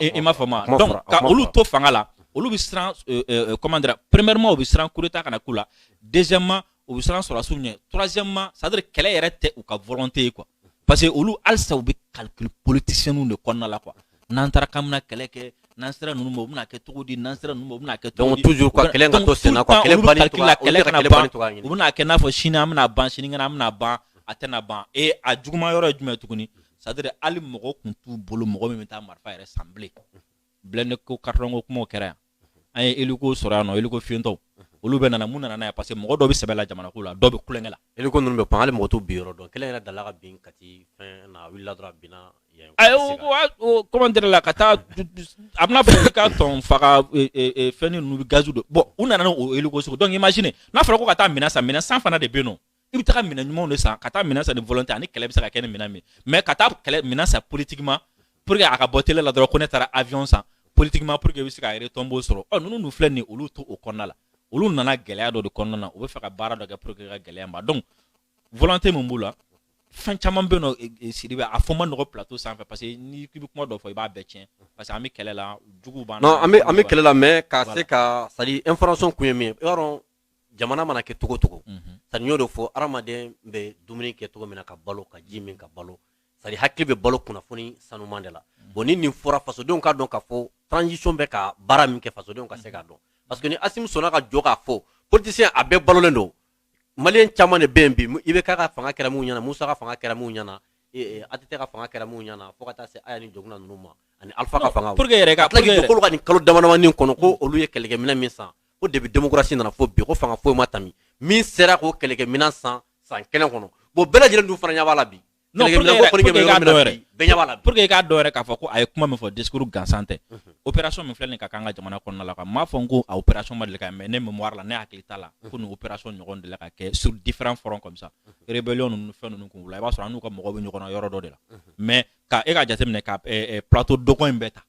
i m'a faamu donc ka olu to fanga la olu bɛ siran comment dire premièrement u bɛ siran coup d'état kana k'u la deuxièmement u bɛ siran sɔrɔdasiw ɲɛ troisièmement c'est à dire kɛlɛ yɛrɛ tɛ u ka volonté ye quoi parce que olu halisa u bɛ calcul politicien de kɔnɔna la quoi n'an taara ka kɛlɛ kɛ n'an sera ninnu ma u bɛna kɛ cogo di n'an sera ninnu ma u bɛna kɛ cogo di toujours quoi kɛlɛ ka to sen la kɛlɛ u bɛna kɛ n'a fɔ sini an bɛna ban sini an bɛna ban a tɛna ban e a juguuma yɔrɔ ye jumɛn tuguni c'est à dire hali mɔgɔ kun t'u bolo mɔgɔ min bɛ taa marifa yɛrɛ san bilen blindé ko carton ko kumaw kɛra yan an ye hélico sɔrɔ yan nɔ hélico fiyentɔw olu bɛ nana mun nana n'a ye parce que mɔgɔ dɔ bɛ sɛbɛ la jamana ko la dɔw bɛ tulonkɛ la hélico ninnu bɛ pan hali mɔgɔ t'u bin yɔrɔ dɔn kelen yɛrɛ dala ka bin Kati fɛn na a wulila dɔrɔn a binna ayiwa comment dire la ka taa a bɛna fɔ ka tɔn faga e, e, e, fɛn ninnu bɛ gazi dɔ bɔn u nana n'o hélico sugu donc imagine n'a fɔra ko ka taa minɛn san minɛn san fana de bɛ yen nɔ i bɛ taa minɛn ɲumanw de san ka taa minɛn san ni volonté ani kɛlɛ bɛ se ka kɛ ni minɛn min mais ka taa kɛlɛ minɛn san politiquement pour que a ka bɔ télé la dɔrɔn ko ne taara avion san politiquement pour que i bɛ se ka retombées sɔrɔ ɔ ninnu dun filɛ nin ye olu to o kɔnɔna la olu nana gɛlɛya dɔ de kɔnɔna na u bɛ fɛ ka baara dɔ kɛ pour que ka gɛlɛya ban donc volonté min b'u la fɛn caman bɛ yen nɔ e, e, Sidibe a fɔ man nɔgɔ plateau sanfɛ parce que n'i k'i bɛ kuma dɔ fɔ i b'a bɛɛ tiɲɛ parce que an bɛ kɛlɛ la juguw b'an na non an bɛ an bɛ kɛlɛ la mais ka se ka c'est à dire information kun ye min ye i b'a dɔn jamana mana kɛ cogo cogo mhm. c'est à dire n y'o de fɔ adamaden bɛ dumuni kɛ cogo min na ka balo ka ji min ka balo c'est à dire hakili bɛ balo kunnafoni sanuman de la mhm. bon ni nin fɔra fasodenw k'a dɔn k'a fɔ transition bɛ ka baara min kɛ fasodenw ka se k'a dɔn mhm. parce que ni Asimi sɔnna ka jɔ k'a fɔ politicien a bɛɛ balolen don malien caman de bɛ yen bi IBK ka fanga kɛra mun ɲɛna Musa ka fanga kɛra mun ɲɛna e, e, ATT ka fanga kɛra mun ɲɛna fo ka taa se Aya ni Dioncounda ninnu ma ani Alpha ka fanga pour que yɛrɛ ka tila k'olu ka nin kalo damadamanin kɔnɔ ko olu ye kɛlɛkɛminɛn min san ko depuis démocratie nana fo bi ko fanga foyi ma tami min sera k'o kɛlɛkɛminɛn san san kelen kɔnɔ bon bɛɛ lajɛlen dun fana ɲɛ b'a la bi pour que k'a dɔn k'a fɔ ko a ye kuma min fɔ discours gansan tɛ mhm. opération min filɛ nin ka k'an ka jamana kɔnɔna la ka m'a fɔ n ko a opération ma deli ka mais ne mémoire la ne hakili t'a la mhm. ko nin opération ɲɔgɔn deli ka kɛ sur différents fronts comme ça mhm. rébellion ninnu fɛn ninnu kun la i b'a sɔrɔ an n'u ka mɔgɔw bɛ ɲɔgɔn na yɔrɔ dɔ de la mais ka e ka jateminɛ ka eh, eh, plateau dogon in bɛɛ ta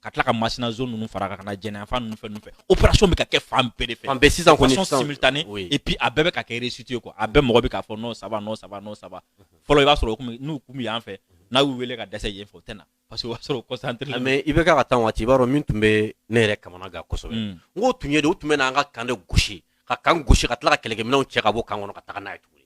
ka tila ka masina zone ninnu fara kan ka na jɛnɛ yanfan ninnu fɛn ninnu fɛ opération bɛ ka kɛ fan bɛɛ de fɛ fan bɛɛ sisan kɔni sisan simultané oui. et puis a bɛɛ bɛ ka kɛ réussite ye quoi a bɛɛ mɔgɔ bɛ k'a fɔ non ça va non ça va non ça va fɔlɔ i b'a sɔrɔ u kun n'u kun bɛ yan fɛ n'a y'u wele ka dɛsɛ yen fɛ u tɛ na parce que o b'a sɔrɔ u concentré ah, mais IBK ka temps waati i b'a dɔn min tun bɛ ne yɛrɛ kamanagan kosɛbɛ n k'o tun ye de u tun bɛ n'an ka kan de gosi ka kan gosi ka tila ka kɛlɛkɛminɛnw cɛ ka bɔ kan kɔnɔ ka taga n'a ye tuguni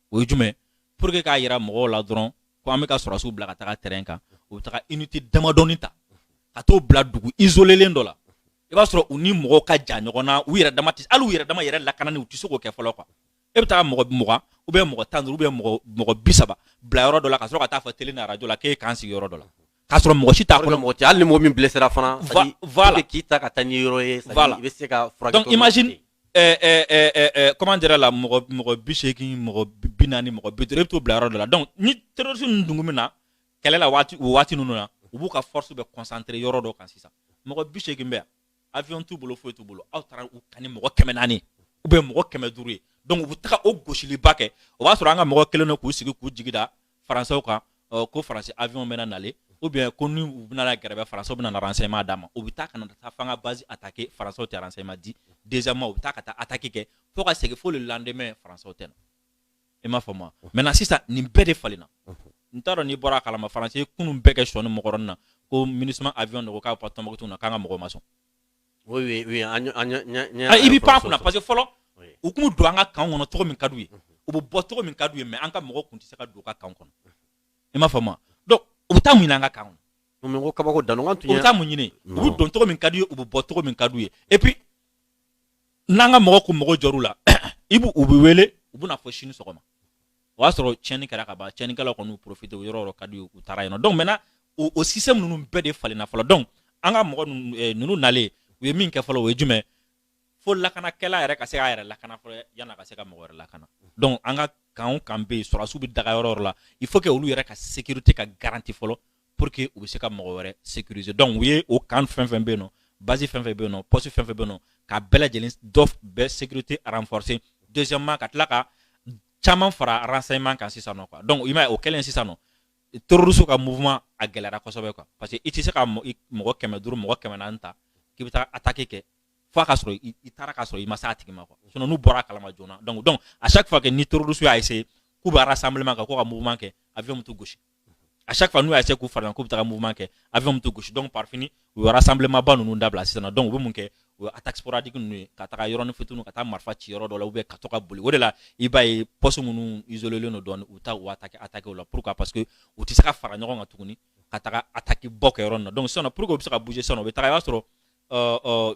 o ye jumɛn pour que k'a yira mɔgɔw la dɔrɔn ko an bɛ ka sɔrɔsiw bila ka taga terrain kan u bɛ taga unité damadɔni ta ka t'o bila dugu isolélen dɔ la i b'a sɔrɔ u ni mɔgɔw ka jan ɲɔgɔn na u yɛrɛ dama tɛ hali u yɛrɛ dama yɛrɛ lakanani u tɛ se k'o kɛ fɔlɔ quoi e bɛ taa mɔgɔ mugan ou bien mɔgɔ tan duuru ou bien mɔgɔ mɔgɔ bi saba bila yɔrɔ dɔ la ka sɔrɔ ka t'a fɔ télé ni arajo la k'e kan sigi yɔrɔ dɔ la k'a sɔrɔ mɔgɔ si t'a kɔnɔ mɔgɔ tɛ hali ni mɔgɔ min blessera fana voilà k'i ta ka taa ni yɔrɔ ye voilà i bɛ se ka furakɛ donc imagine ɛɛ ɛɛ ɛɛ ɛɛ comment dire la mɔgɔ mɔgɔ bi seegin mɔgɔ bi naani mɔgɔ bi duuru e bɛ t'o bila yɔrɔ dɔ la donc ni terroriste ninnu dun kun bɛ na kɛlɛ la waati o waati ninnu na u b'u ka force bɛɛ concentrer yɔrɔ dɔ kan sisan mɔgɔ bi seegin bɛ yan avion t'u bolo foyi t'u bolo aw taara u kan ni mɔgɔ kɛmɛ naani ou bien mɔgɔ kɛmɛ duuru ye donc u bɛ taga o gosiliba kɛ o b'a sɔrɔ an ka mɔgɔw kɛlen don k'u sigi k'u jigi da faransɛw kan ko faransi avion bɛna nale ou bien ko ni u bɛna gɛrɛbɛ faransɛw bɛna renseignement d'a ma u bɛ taa ka na taa f'an ka base attaquer faransɛw tɛ renseignement di deuxièmement u bɛ taa ka taa attaque kɛ fo ka segin fo le lendemain faransɛw tɛ na i m'a faamu wa maintenant sisan nin bɛɛ de falenna n t'a dɔn n'i bɔra a kalama faransi ye kunun bɛɛ kɛ sɔni mɔgɔrɔni na ko minusma avion de ko k'a bɛ taa tɔnbɔkutu na k'an ka mɔgɔw ma sɔn i bɛ pan kunna parce que fɔlɔ u kun bɛ don an ka kan kɔnɔ cogo min ka d'u ye u bɛ bɔ cogo min ka d'u ye mais an ka mɔgɔw kun tɛ se ka don u ka kan kɔnɔ i m'a faamu u bɛ taa mun ɲini an ka kan kɔnɔ kabako dan u bɛ taa mun ɲini u bɛ don cogo min ka d'u ye u bɛ bɔ cogo min ka d'u ye et puis n'an ka mɔgɔw kun mago jɔr'u la i b u bɛ wele u bɛ na fo sini sɔgɔma o y'a sɔrɔ tiɲɛni kɛra ka ban tiɲɛnikɛlaw kɔni y'u profité o yɔrɔ yɔrɔ ka d'u ye u taara yen nɔ donc maintenant o o système ninnu bɛɛ de falenna fɔlɔ donc an ka mɔgɔ ninnu eh, ninnu nalen u ye min kɛ fɔlɔ o ye jumɛn fo lakanakɛla yɛrɛ ka se k'a yɛrɛ lakana fɔlɔ yan'a ka se ka mɔgɔ wɛrɛ lakana donc an ka kan o kan bɛ yen sɔrɔdasiw bɛ daga yɔrɔ o yɔrɔ la il faut que olu yɛrɛ ka sécurité ka garanti fɔlɔ pour que u bɛ se ka mɔgɔ wɛrɛ sécuriser donc u ye o kan fɛn fɛn bɛ yen nɔ base fɛn fɛn bɛ yen nɔ poste fɛn fɛn bɛ yen nɔ k'a bɛɛ lajɛlen dɔ bɛɛ sécurité renforcer deuxièmement ka tila ka caman fara renseignement kan sisan nɔ quoi donc i m'a ye o kɛlen sisan nɔ terroriste ka mouvement a gɛlɛyara kosɛbɛ quoi parce que i tɛ se ka mɔgɔ kɛmɛ duuru mɔgɔ kɛmɛ naani ta k'i bɛ taa attaque kɛ fo a ka sɔrɔ i taara k'a sɔrɔ i ma se a tigi ma quoi sinon n'u bɔra a kalama joona donc donc à chaque fois que ni terroriste y'a essayer k'u bɛ rassemblement kɛ ko ka mouvement kɛ avion bɛ t'u gosi à chaque fois n'u y'a essayer k'u fara k'u bɛ taga mouvement kɛ avion bɛ t'u gosi donc par fini u ye rassemblement ba ninnu dabila sisan donc u bɛ mun kɛ o ye attaque sporadique ninnu ye ka taga yɔrɔnin fitiniw ka taa marifa ci yɔrɔ dɔ la ou bien ka to ka boli o de la i b'a ye poste minnu isolélen don dɔɔnin u taa u attaquer attaquer o la pourquoi parce que u tɛ se ka fara ɲɔgɔn kan tuguni ka taga attaque ba kɛ yɔrɔ ninnu na donc sisan pour que u bɛ se ka bouger sisan u bɛ taga i b'a sɔrɔ euh, euh,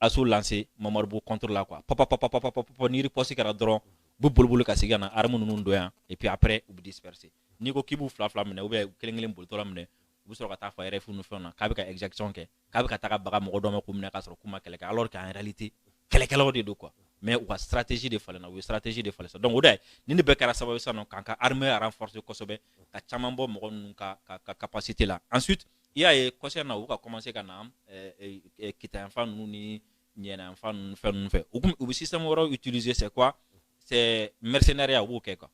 assaut lancer mamarubu contre la quoi pap pap pap pap pap ni riposte kɛra dɔrɔn u bɛ boli boli ka segin ka na arme ninnu don yan et puis après u bɛ disperser n'i ko k'i b'u fila fila minɛ ou bien kelen kelen bolitɔ minɛ u bɛ sɔrɔ ka taa fɔ RFI ni fɛn na k'a bɛ ka exaction kɛ k'a bɛ ka taa baga mɔgɔ dɔw ma k'u minɛ k'a sɔrɔ k'u ma kɛlɛ kɛ alors qu'en réalité kɛlɛkɛlaw de don quoi mais u ka stratégie de falenna u ye stratégie de falen sa donc o de nin bɛɛ kɛra sababu sa k'an ka armée renforcer kosɛbɛ ka caman bɔ mɔgɔ ninnu ka ka capacité la ensuite i y'a ye kɔsa in na u ka commencer ka na kita yanfan ninnu ni ɲɛna yanfan ninnu fɛn ninnu fɛ u u bɛ système wɛrɛw utiliser c'est quoi c'est mercenariat u b'o kɛ quoi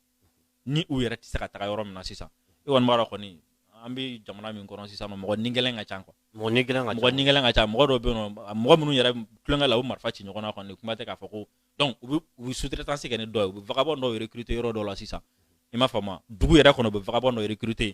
ni u yɛrɛ tɛ se ka taga yɔrɔ min na sisan i kɔni b'a dɔn kɔni an bɛ jamana min kɔnɔ sisan mɔgɔ ni gɛlɛn ka ca quoi mɔgɔ ni gɛlɛn ka ca mɔgɔ ni gɛlɛn ka ca mɔgɔ dɔw bɛ yen nɔ mɔgɔ minnu yɛrɛ tulonkɛ la u marifa ci ɲɔgɔn na kɔni kuma tɛ k'a fɔ ko donc u bɛ u bɛ sous-traitance kɛ ni dɔ ye u bɛ vagabond dɔw recruter yɔrɔ dɔw la sisan i m'a faamu wa dugu yɛrɛ kɔnɔ u bɛ vagabond dɔ recruter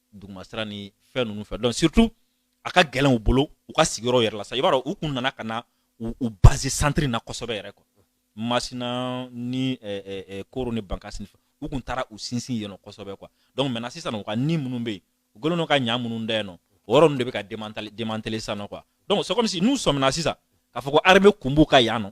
duguma sira ni fɛn ninnu fɛ donc surtout a ka gɛlɛn u bolo u ka sigiyɔrɔ yɛrɛ la sa i b'a dɔn u kun nana ka na u base centre na kosɛbɛ yɛrɛ quoi masina ni eh, eh, eh, koro ni bankasi u kun taara u sinsin yen nɔ kosɛbɛ quoi donc maintenant sisan u ka nid minnu bɛ yen u kɛlen don ka ɲa minnu da yen nɔ o yɔrɔ ninnu de bɛ ka démanteler démanteler sisan nɔ quoi donc c'est comme si n'u sɔmina sisan k'a fɔ ko armée kun b'u ka yan nɔ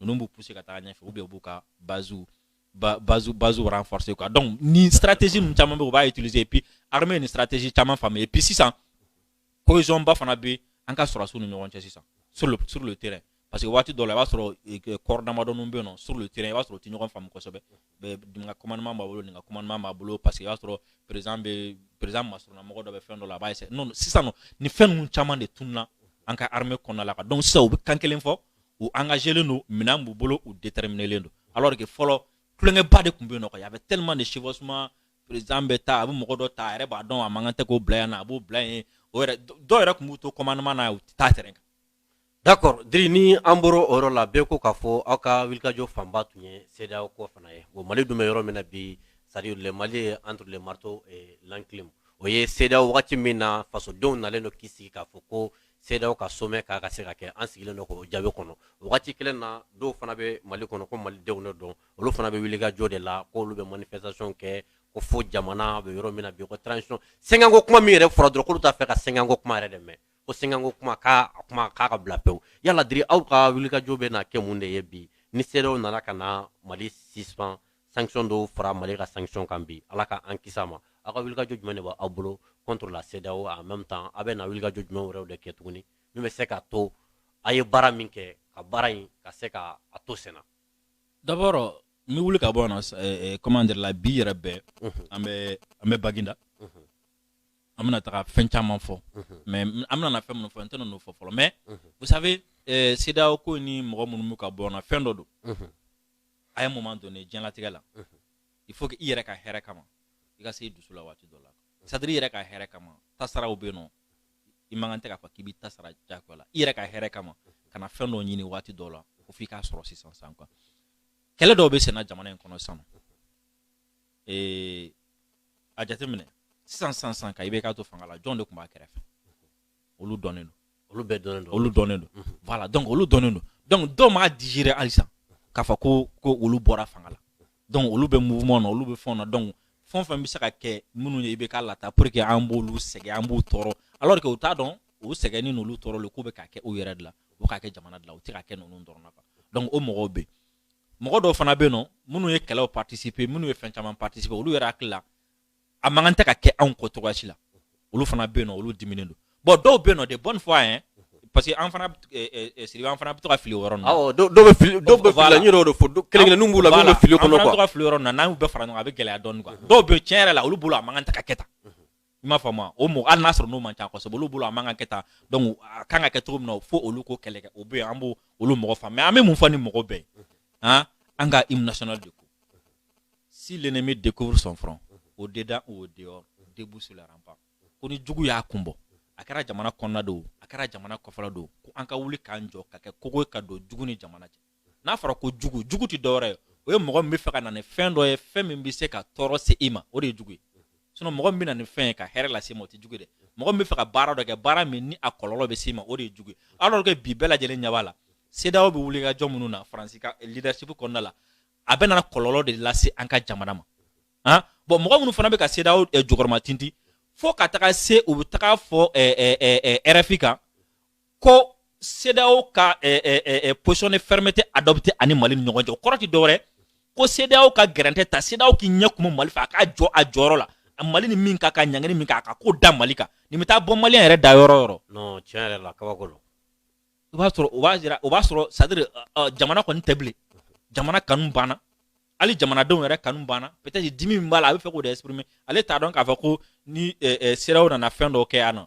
ninnu b'u pousser ka taga ɲɛfɛ ou bien u b'u ka base ba, base base renforcer quoi donc nin stratégie ninnu caman bɛ u b'a utiliser et puis armée ni stratégie caman faamu et puis sisan cohésion ba fana bɛ an ka sɔrɔdasiw ni ɲɔgɔn cɛ sisan sur le sur le terrain parce que waati dɔ la i b'a sɔrɔ corps damadɔninw bɛ yen nɔ sur le terrain i b'a sɔrɔ u tɛ ɲɔgɔn faamu kosɛbɛ nin ka commandement b'a bolo nin ka commandement b'a bolo parce que i b'a sɔrɔ président bɛ président masurunnamɔgɔ dɔ bɛ fɛn dɔ la a b'a essayer non sisan nɔ nin fɛn ninnu caman de tununa an ka armée kɔnɔna la quoi donc sisan u bɛ kan kelen fɔ u engagélen don minɛn b'u bolo u déterminelen don alors que fɔlɔ tulonkɛba de tun bɛ yen nɔ quoi y avait tellement de chevauchement président bɛ taa a bɛ mɔgɔ dɔ ta a yɛrɛ b'a dɔn a man kan tɛ k'o bila yan na a b'o bila yen o yɛrɛ dɔw yɛrɛ tun b'u to commandement na u tɛ taa terrain kan D'accord Diri ni an bɔra o yɔrɔ la bɛɛ ko k'a fɔ aw ka wulikajɔ fanba tun ye CEDEAO ko fana ye wa mali dun bɛ yɔrɔ min na bi c'est-à-dire le mali est entre le marteau et l'enclume o ye CEDEAO wagati min na fasodenw nalen don k'i sigi k'a fɔ ko CEDEAO ka sommet k'a ka se ka kɛ an sigilen don k'o jaabi kɔnɔ wagati kelen na dɔw fana bɛ mali kɔnɔ ko malidenw de don olu fana bɛ wulikajɔ de la ko olu bɛ manifestation kɛ ko fo jamana bɛ yɔrɔ min na bi sɛgɛnko kuma min yɛrɛ fɔra dɔrɔn k'olu t'a fɛ ka sɛgɛnko kuma yɛrɛ dɛ ko sɛgɛnko kuma k'a kuma k'a ka bila pewu yala diri aw ka wulikajɔ bɛ na kɛ mun de ye bi ni CEDEAO nana ka na mali suspend sanction dɔw fara mali ka sanction kan bi ala ka an kisi a ma aw ka wulikajɔ jumɛn de b'aw bolo contre la CEDEAO en même temps aw bɛ na wulikajɔ jumɛn wɛrɛw de kɛ tuguni min bɛ se ka to a ye baara min kɛ ka baara in ka se ka a to senna d'abord n bɛ wuli ka bɔ yan nɔ comment dire la bi yɛrɛ bɛɛ an bɛ an bɛ baginda an bɛna taga fɛn caman fɔ mais an bɛna na fɛn minnu fɔ n tɛna n'o fɔ fɔlɔ mais vous savez eh, CEDEAO ko ni mɔgɔ minnu bɛ ka bɔ na fɛn dɔ don à un moment donné diɲɛlatigɛ la il faut que i yɛrɛ ka hɛrɛ kama i ka se i dusu la waati dɔ la c'est-à-dire i yɛrɛ ka hɛrɛ kama tasaraw bɛ yen nɔ i man kan tɛ k'a fɔ k'i bɛ tasara jagoya la i yɛrɛ ka hɛrɛ kama ka na fɛn dɔ ɲini waati dɔ la ko f'i k'a sɔrɔ sisan sisan quoi kɛlɛ dɔw bɛ senna jamana in kɔnɔ sisan ee a jateminɛ sisan san san ka IBK to fanga la jɔn de tun b'a kɛrɛfɛ olu dɔnnen don olu bɛɛ dɔnnen don olu dɔnnen don mhm. voilà donc olu dɔnnen don donc dɔw m'a digérer halisa k'a fɔ ko ko olu bɔra fanga la donc olu bɛ mouvement na olu bɛ fɛnw na donc fɛn o fɛn bɛ se ka kɛ minnu ye IBK lataa pour que an b'olu sɛgɛn an b'u tɔɔrɔ alors que u t'a dɔn u sɛgɛnni n'olu tɔɔrɔli k'u bɛ k'a kɛ u yɛrɛ de la u k'a kɛ jamana de la u tɛ k'a kɛ ninnu dɔrɔn na quoi donc o mɔgɔw bɛ yen mɔgɔ dɔw fana bɛ yen nɔ minnu ye kɛlɛw participer minnu ye fɛn caman participer olu yɛrɛ hakili la a man kan tɛ ka kɛ anw kɔ cogoya si la olu fana bɛ yen nɔ olu diminnen don bon dɔw bɛ yen nɔ de bonne foi hein parce que an fana eh, eh, eh, Siribe an fana bɛ to ka fili o yɔrɔ ninnu na awɔ dɔw dɔw bɛ fili dɔw bɛ fili la n y'o de fɔ dɔ- kelen-kelenninw b'u la minnu bɛ fili o kɔnɔ Voilà, an fana bɛ to quoi ka fili o yɔrɔ ninnu na n'an y'u bɛɛ fara ɲɔgɔn kan a bɛ gɛlɛya dɔɔni quoi dɔw bɛ yen tiɲɛ yɛrɛ la olu bolo a man kan tɛ ka kɛ tan i m'a faamu o mɔgɔ hali n'a sɔrɔ n'o man ca kosɛbɛ olu bolo a man ka kɛ tan donc a kan ka kɛ cogo min na fo olu k'o kɛlɛ kɛ o bɛ yen an b'o olu mɔgɔ faamu mais an bɛ mun fɔ nin mɔgɔ bɛɛ ye han an ka hymne national de ko si l'ennemi découvre son front au dedans ou au dehors debout sur la rempart ko ni jugu y'a kun bɔ a kɛra jamana kɔnɔna de o a kɛra jamana kɔfɛla de o ko an ka wuli k'an jɔ ka kɛ kogo ye ka don jugu ni jamana cɛ n'a fɔra ko jugu jugu tɛ dɔwɛrɛ ye o ye mɔgɔ min bɛ fɛ ka na ni fɛn dɔ ye fɛn min bɛ se ka tɔɔrɔ se i ma o de ye jugu ye sinon mɔgɔ min bɛ na ni fɛn ye ka hɛrɛ lase i ma o tɛ jugu ye dɛ mɔgɔ min bɛ fɛ ka baara dɔ kɛ baara min ni a kɔlɔlɔ bɛ se i ma o de ye jugu ye alors que bi bɛɛ lajɛlen ɲɛ b'a la CEDEAO bɛ wuli ka jɔ minnu na faransi ka leadership kɔnɔna la a bɛ na kɔlɔlɔ de lase an ka jamana ma han bon mɔgɔ minnu fana bɛ ka CEDEAO eh, jukɔrɔma tintin fo ka taga se u bɛ taga fɔ eh, eh, RFI kan ko CEDEAO ka eh, eh, eh, eh position de fermeté adoptée a ni Mali ni ɲɔgɔn cɛ o kɔrɔ tɛ dɔwɛrɛ ko CEDEAO ka gɛrɛntɛ ta CEDEAO k'i ɲɛ kumu Mali fɛ a k'a jɔ a jɔyɔrɔ la a Mali ni min ka kan ɲangini min ka kan k'o da Mali kan nin bɛ taa bɔ Malien yɛrɛ da yɔrɔ yɔrɔ. non tiɲɛ yɛrɛ la kabako don. i b'a sɔrɔ o b'a jira o b'a sɔrɔ c'est à dire uh, jamana kɔni tɛ bilen jamana kanu banna hali jamanadenw yɛrɛ kanu banna peut être dimi min b'a la a bɛ fɛ k'o de exprimer ale t'a dɔn k'a fɔ ko ni eh, eh, CEDEAO nana fɛn dɔw kɛ yan nɔ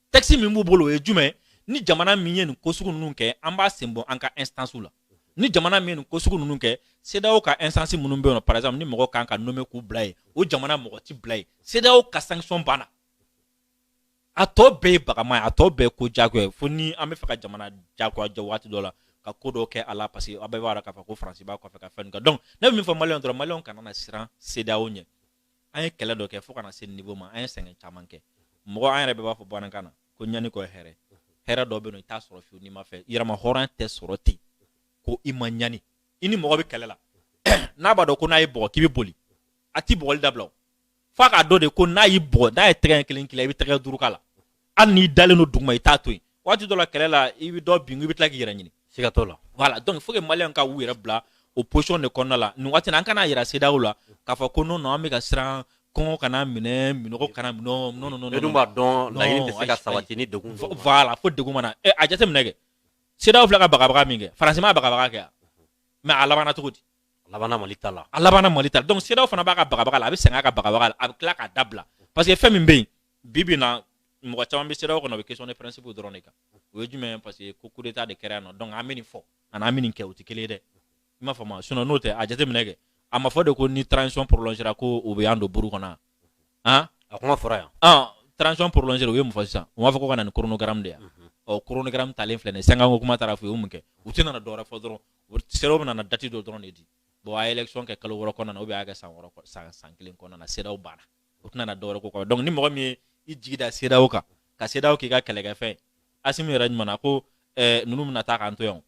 texte min b'u bolo o ye jumɛn ni jamana min ye nin ko sugu ninnu kɛ an b'a senbɔ an ka instances la ni jamana min ye nin ko sugu ninnu kɛ CEDEAO ka instance minnu bɛ yen nɔ par exemple ni mɔgɔ kan ka nommer k'u bila yen o jamana mɔgɔ tɛ bila yen CEDEAO ka sanction banna a tɔ bɛɛ ye bagama ye a tɔ bɛɛ ye ko diyagoya ye fo ni an bɛ fɛ ka jamana diyagoya jɔ waati dɔ la ka ko dɔ kɛ a la parce que aw bɛɛ b'a dɔn k'a fɔ ko faransi b'a kɔfɛ ka fɛn dɔ kɛ donc ne bɛ min fɔ maliyɛnw dɔrɔn maliyɛnw kana na siran CEDEAO ɲɛ an ye kɛlɛ dɔ kɛ fo ka na se niveau ma an ye sɛgɛn caman kɛ mɔgɔ an yɛrɛ bɛɛ b'a fɔ bamanankan na ko ɲani kɔ hɛrɛ hɛrɛ dɔ bɛ yen i t'a sɔrɔ fiyewu n'i ma fɛ yɛrɛmahɔrɔnya tɛ sɔrɔ ten ko i ma ɲani i ni mɔgɔ bɛ kɛlɛ la n'a b'a dɔn ko n'a y'i bɔgɔ k'i bɛ boli a t'i bɔgɔli dabila o f'a k'a dɔn de ko n'a y'i bɔgɔ n'a ye tɛgɛ kelen k'i la i bɛ tɛgɛ duuru k'a la hali n'i dalen don duguma i t'a to yen waati dɔ la kɛlɛ la i bɛ dɔ bin i bɛ tila k'i yɛrɛ ɲini siga t'o la voilà donc il faut que maliyɛnw ka u yɛrɛ bila o position de kɔnɔna la nin waati na an kana yira CEDEAO la k'a fɔ ko non non an bɛ ka siran kɔngɔ kana minɛ minɔgɔ kana minɛ non non non bɛɛ dun b'a dɔn laɲini tɛ se ka sabati ni degun dɔw ma. voilà fo degun mana ɛ a jateminɛ kɛ CEDEAO filɛ ka bagabaga min kɛ faransi ma bagabaga kɛ mais a labanna cogo di a labanna mali ta la a labanna mali ta la donc CEDEAO fana b'a ka bagabaga la a bɛ sɛgɛn a ka bagabaga la a bɛ tila k'a dabila parce que fɛn min bɛ yen bi bi na mɔgɔ caman bɛ CEDEAO kɔnɔ o bɛ question de principe dɔrɔn de kan o ye jumɛn parce que ko coup d'état de kɛra yan nɔ donc an bɛ nin fɔ ani an bɛ nin kɛ o tɛ kelen ye dɛ i m'a faamu sinon n'o tɛ a jateminɛ kɛ a ma fɔ de ko ni transition prolongera ko o bɛ an don buru kɔnɔ han a kuma fɔra yan ɔn transition prolongera u ye mun fɔ sisan u b'a fɔ ko ka na ni chronogramme de ye ɔ chronogramme talen filɛ nin ye sankanko kuma taara fɔ u ye mun kɛ u tɛna na dɔwɛrɛ fɔ dɔrɔn CEDEAO bɛna na date dɔ dɔrɔn de di bon a ye élection kɛ kalo wɔɔrɔ kɔnɔna na ou bien a y'a kɛ san wɔɔrɔ san san kelen kɔnɔna na CEDEAO banna u tɛna na dɔwɛrɛ k'o kɔ donc ni mɔgɔ min ye i jigi da CEDEAO kan ka CEDEAO k'i ka kɛlɛkɛfɛn asimi yɛrɛ ɲuman na ko eh, ninnu bɛna taa k'an to yan n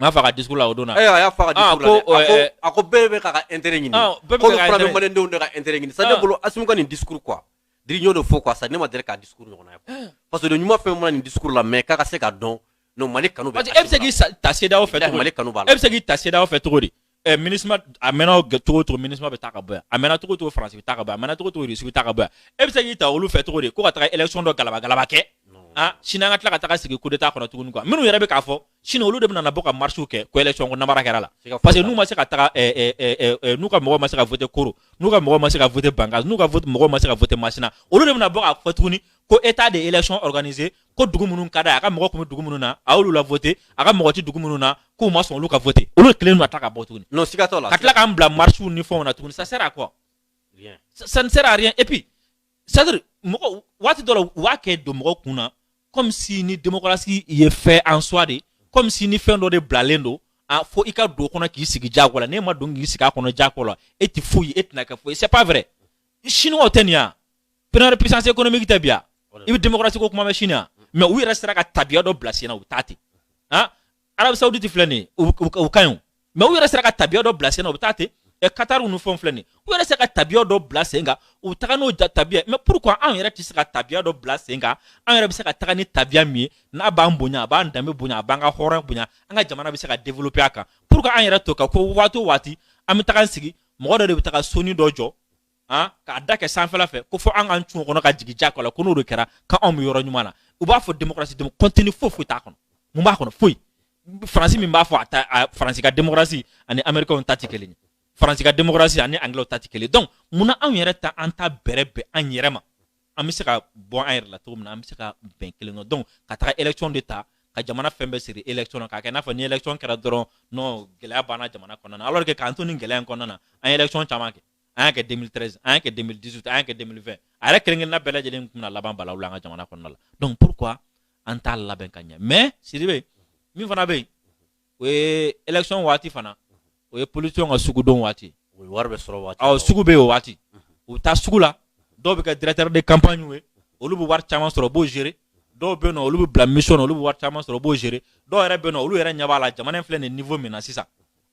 b'a fɔ a ka discours la o don a y'a fɔ a ka discours la a ko bɛɛ bɛ k'a ka intérêt ɲini ah, k'a fana bɛ maliyɛndenw de ka intérêt ɲini sa ne ah. bolo asimi ka nin discours quoi dirigeant de fɔ quoi sa ne ma deli k'a discours ɲɔgɔn ye eh. parce que ɲuman fɛn mana nin discours la mais k'a ka se ka dɔn mali kanu e bɛ se k'i ta CEDEAO fɛ mali kanu b'e la e bɛ se k'i ta CEDEAO fɛ cogo di ɛ MINUSMA a mɛnna g- cogo o cogo MINUSMA bɛ taa ka bɔ yan a mɛnna cogo o cogo faransi bɛ taa ka bɔ yan a mɛnna cogo o cogo irisi bɛ taa ka bɔ yan e bɛ se k'i ta olu fɛ cogo di ko ka taga élection dɔ galabagalaba kɛ ah sini an ka tila ka taga sigi coup d'état kɔnɔ tuguni quoi minnu yɛrɛ bɛ k'a fɔ sini olu de bɛna na bɔ ka marche kɛ ko élection ko namara kɛra la siga foyi t'a la parce que n'u ma se ka taga ɛ, ɛ, ɛ, ɛ, ɛ, n'u ka mɔgɔw ma se ka voter koro n'u ka mɔgɔw ma se ka voter bankass n'u ka vote- mɔgɔw ma se ka voter masina olu de bɛna bɔ k'a fɔ tuguni ko état de élection organisé ko dugu minnu ka d'a ye a ka mɔgɔ tun bɛ dugu minnu na a y'olu la voter a ka mɔgɔ tɛ dugu minnu na k'u ma sɔn olu ka voter olu kelen de na tila ka bɔ tuguni non siga t'o la ka tila k'an bila marches ni fɛnw na tuguni ça sert à quoi rien ça ne sert à rien et puis c'est à dire mɔgɔ waati dɔ la u b'a kɛ don mɔgɔ kun na comme si ni démocratie ye fin en soi de comme si ni fɛn dɔ de bilalen don a fo i ka don o kɔnɔ k'i sigi diyagoya la n'e ma don k'i sigi a kɔnɔ diyagoya la e tɛ foyi e tɛna kɛ foyi c'est pas vrai chinois tɛ nin yan première puissance économique tɛ bi yan i bɛ démocratie ko kuma bɛ chine yan mais u yɛrɛ sera ka tabiya dɔ bila sen na u bɛ taa ten han arabie saoudite filɛ nin ye u ka ɲi o mais u yɛrɛ sera ka tabiya dɔ bila sen na u bɛ taa ten ɛ qatar ninnu fɛnw filɛ nin ye u yɛrɛ sera ka tabiya dɔ bila sen kan u bɛ taga n'o tabiya mais pourquoi anw yɛrɛ tɛ se ka tabiya dɔ bila sen kan an yɛrɛ bɛ se ka taga ni tabiya min ye n'a b'an bonya a b'an danbe bonya a b'an ka hɔrɔn bonya an ka jamana bɛ se ka développer a kan pourquoi an yɛrɛ to ka ko waati o waati an bɛ taga an sigi mɔgɔ dɔ de bɛ taga sonin dɔ jɔ han k'a da kɛ sanfɛla fɛ ko fɔ an k'an cun o kɔnɔ ka jigin a kɔnɔ ko n'o de kɛra k'anw bɛ yɔrɔ ɲuman na u b'a fɔ démocratie demo contenu foyi foyi t'a kɔnɔ mun b'a kɔnɔ foyi faransi min b'a fɔ a ta a faransi ka démocratie ani américainw ta tɛ kelen ye faransi ka démocratie ani anglais ta tɛ kelen ye donc mun na anw yɛrɛ ta an t'a bɛrɛ bɛn an yɛrɛ ma an bɛ se ka bɔ an yɛrɛ la cogo min na an bɛ se ka bɛn kelen dɔn donc ka taga élection de ta ka jamana fɛn bɛɛ siri élection na k'a kɛ i n'a fɔ ni élection kɛra dɔrɔn non gɛlɛya banna jamana kɔnɔna na alors que k'an to nin gɛlɛya in kɔnɔna na an ye élection caman kɛ an y'a kɛ 2013 an y'a kɛ 2018 an y'a kɛ 2020 a yɛrɛ kelen-kelenna bɛɛ lajɛlen tun bɛna laban balawu la an ka jamana kɔnɔna la donc pourquoi an t'a labɛn ka ɲɛ mais Sidibe min fana bɛ yen o ye élection waati fana o ye politicien ka sugudon waati o ye wariba sɔrɔ waati awɔ sugu bɛ yen o waati u bɛ taa sugu la dɔw bɛ kɛ directeur de campagne ye olu bɛ wari caman sɔrɔ u b'o gérer dɔw bɛ yen nɔ olu bɛ bila mission na olu bɛ wari caman sɔrɔ u b'o gérer dɔw yɛrɛ bɛ yen nɔ olu yɛrɛ ɲɛ b'a la jamana in filɛ nin ye niveau min na sisan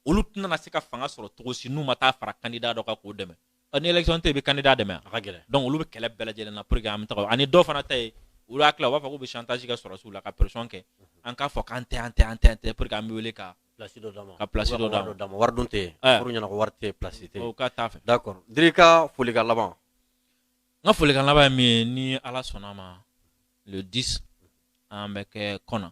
olu tɛna se ka fanga sɔrɔ cogo si n'u ma taa fara candidat dɔ kan k'o dɛmɛ ni élection tɛ yen i bɛ candidat dɛmɛ a ka gɛlɛn donc olu bɛ kɛlɛ bɛɛ lajɛlen na pour que an bɛ taga ani dɔw fana ta ye olu hakili la u b'a fɔ k'u bɛ chantage kɛ sɔrɔdasiw la ka pression kɛ an k'a fɔ k'an tɛ an tɛ an tɛ an tɛ pour que an bɛ wele ka place dɔ d'an ma ka place dɔ d'an ma wari dun tɛ yen fɔr'u ɲɛna ko wari tɛ yen place tɛ yen o ka t'a fɛ d'accord Diri ka folikan laban n ka folikan laban ye min ye ni Ala sɔnna a ma le 10 an bɛ kɛ kɔna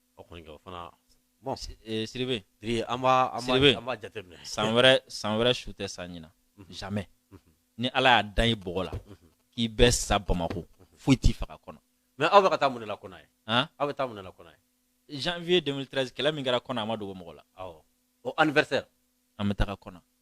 san wɛrɛ san wɛrɛ su tɛ sa ɲinan jamais ni ala y'a da i bɔgɔ la k'i bɛ sa bamakɔ foyi t'i faga kɔna mais aw bɛ taa mun la kɔna yen aw bɛ taa mun la kɔna yen janvier 2013 kɛlɛ min kɛra kɔna a ma dogo mɔgɔ la an an bɛ taa kɔna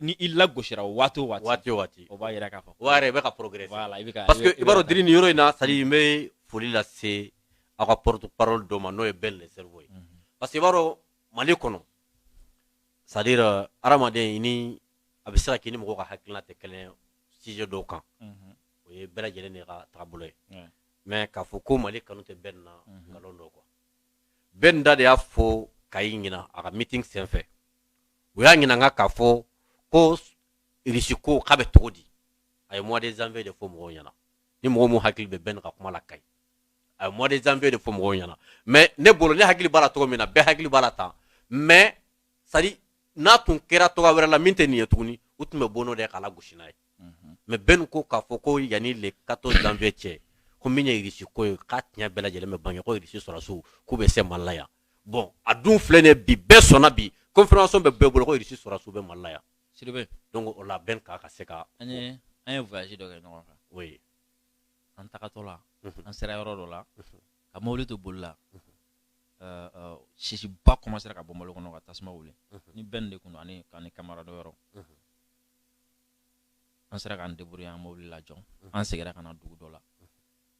ni i lagosira waati o waati waati o waati o b'a yira k'a fɔ o b'a yira i bɛ ka progresser voilà i bɛ ka parce que i b'a dɔn diri nin yɔrɔ in na c'est à dire n bɛ foli lase aw ka porte parole dɔ ma n'o ye ben le cerveau ye mhm. parce que i b'a dɔn mali kɔnɔ c'est à dire euh, hadamaden i ni a bɛ se ka k'i ni mɔgɔw ka hakilina tɛ kelen ye sujet dɔw kan mhm. o ye bɛɛ lajɛlen de ka taabolo ye mais k'a fɔ ko mali kanu tɛ ben na mhm. nkalon don quoi ben da de y'a fɔ kayi ɲinan a ka meeting senfɛ u y'a ɲininka k'a fɔ ko irisi ko k'a bɛ cogo di a ye mois de janvier de fɔ mɔgɔw ɲɛna ni mɔgɔ min hakili bɛ bɛn ka kuma la kayi a ye mois de janvier de fɔ mɔgɔw ɲɛna mais ne bolo ne hakili b'a la cogo min na bɛɛ hakili b'a la tan mais c'est à dire n'a tun kɛra cogo wɛrɛ la min tɛ nin ye tuguni u tun bɛ bɔ n'o de k'a lagosi n'a ye mhm. mais bɛn ko k'a fɔ ko yanni le 14 janvier cɛ ko min ye irisi ko ye k'a tiɲɛ bɛɛ lajɛlen bɛ bange ko irisi sɔrɔsiw k'u bɛ se mali la yan bon a dun filɛ nin ye bi bɛɛ sɔnna bi confirmation bɛ bɛɛ bolo ko irisi sɔrɔsiw bɛ mali la yan sidibe donc o la bɛn k'a ka se ka an ye an ye voyage dɔ kɛ ɲɔgɔn fɛ o ye an tagatɔ la an sera yɔrɔ dɔ la ka mobili to boli la sisiba commencera ka bɔ mobili kɔnɔ ka tasuma wuli ni bɛn de tun don ani ka ni camarade wɛrɛw an sera k'an débrouiller an mobili lajɔ an seginna ka na dugu dɔ la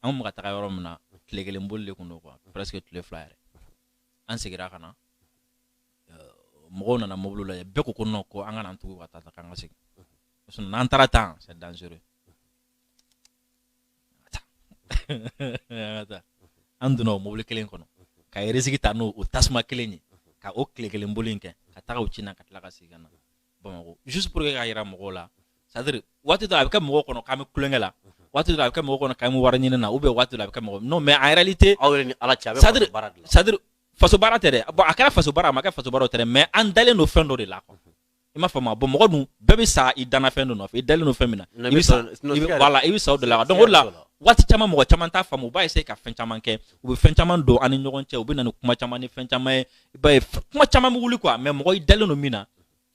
an kun bɛ ka taga yɔrɔ min na tile kelen boli de tun don quoi presque tile fila yɛrɛ an seginna ka na euh, mɔgɔw nana mobili lajɛ bɛɛ ko ko non ko an kana an tugu ka taa tan k'an ka segin parce que n'an taara tan c'est dangereux an donna o mobili kelen kɔnɔ ka risque ta n'o o tasuma kelen ye ka o tile kelen boli in kɛ ka taga o ci na ka tila ka segin ka na bamakɔ juste pour que k'a yira mɔgɔw la c'est à dire waati dɔ a bɛ kɛ mɔgɔw kɔnɔ k'an bɛ tulonkɛ la waati dɔ a bɛ kɛ mɔgɔw kɔnɔ k'an bɛ wari ɲini na ou bien waati dɔ a bɛ kɛ mɔgɔ non mais en réalité aw yɛrɛ ni ala cɛ a bɛ faso baara de la c'est à dire faso baara tɛ dɛ bon a kɛra faso baara a ma kɛ faso baara o tɛ dɛ mais an dalen don fɛn dɔ de la quoi i m'a faamu bon mɔgɔ dun bɛɛ bɛ sa i danna fɛn dɔ nɔfɛ i dalen don fɛn min na Non, i bɛ mais sa sinon- sinon i bɛ- siga yɛrɛ- voilà i bɛ sa o de la siga donc o de la yɛrɛ t'o la. waati caman mɔgɔ caman t'a faamu u b'a essayer ka fɛn caman kɛ u bɛ fɛn caman don an ni ɲɔgɔn cɛ u bɛ na ni kuma caman ni fɛn caman ye i b'a ye f- kuma caman bɛ wuli quoi mais mɔgɔ i dalen don min na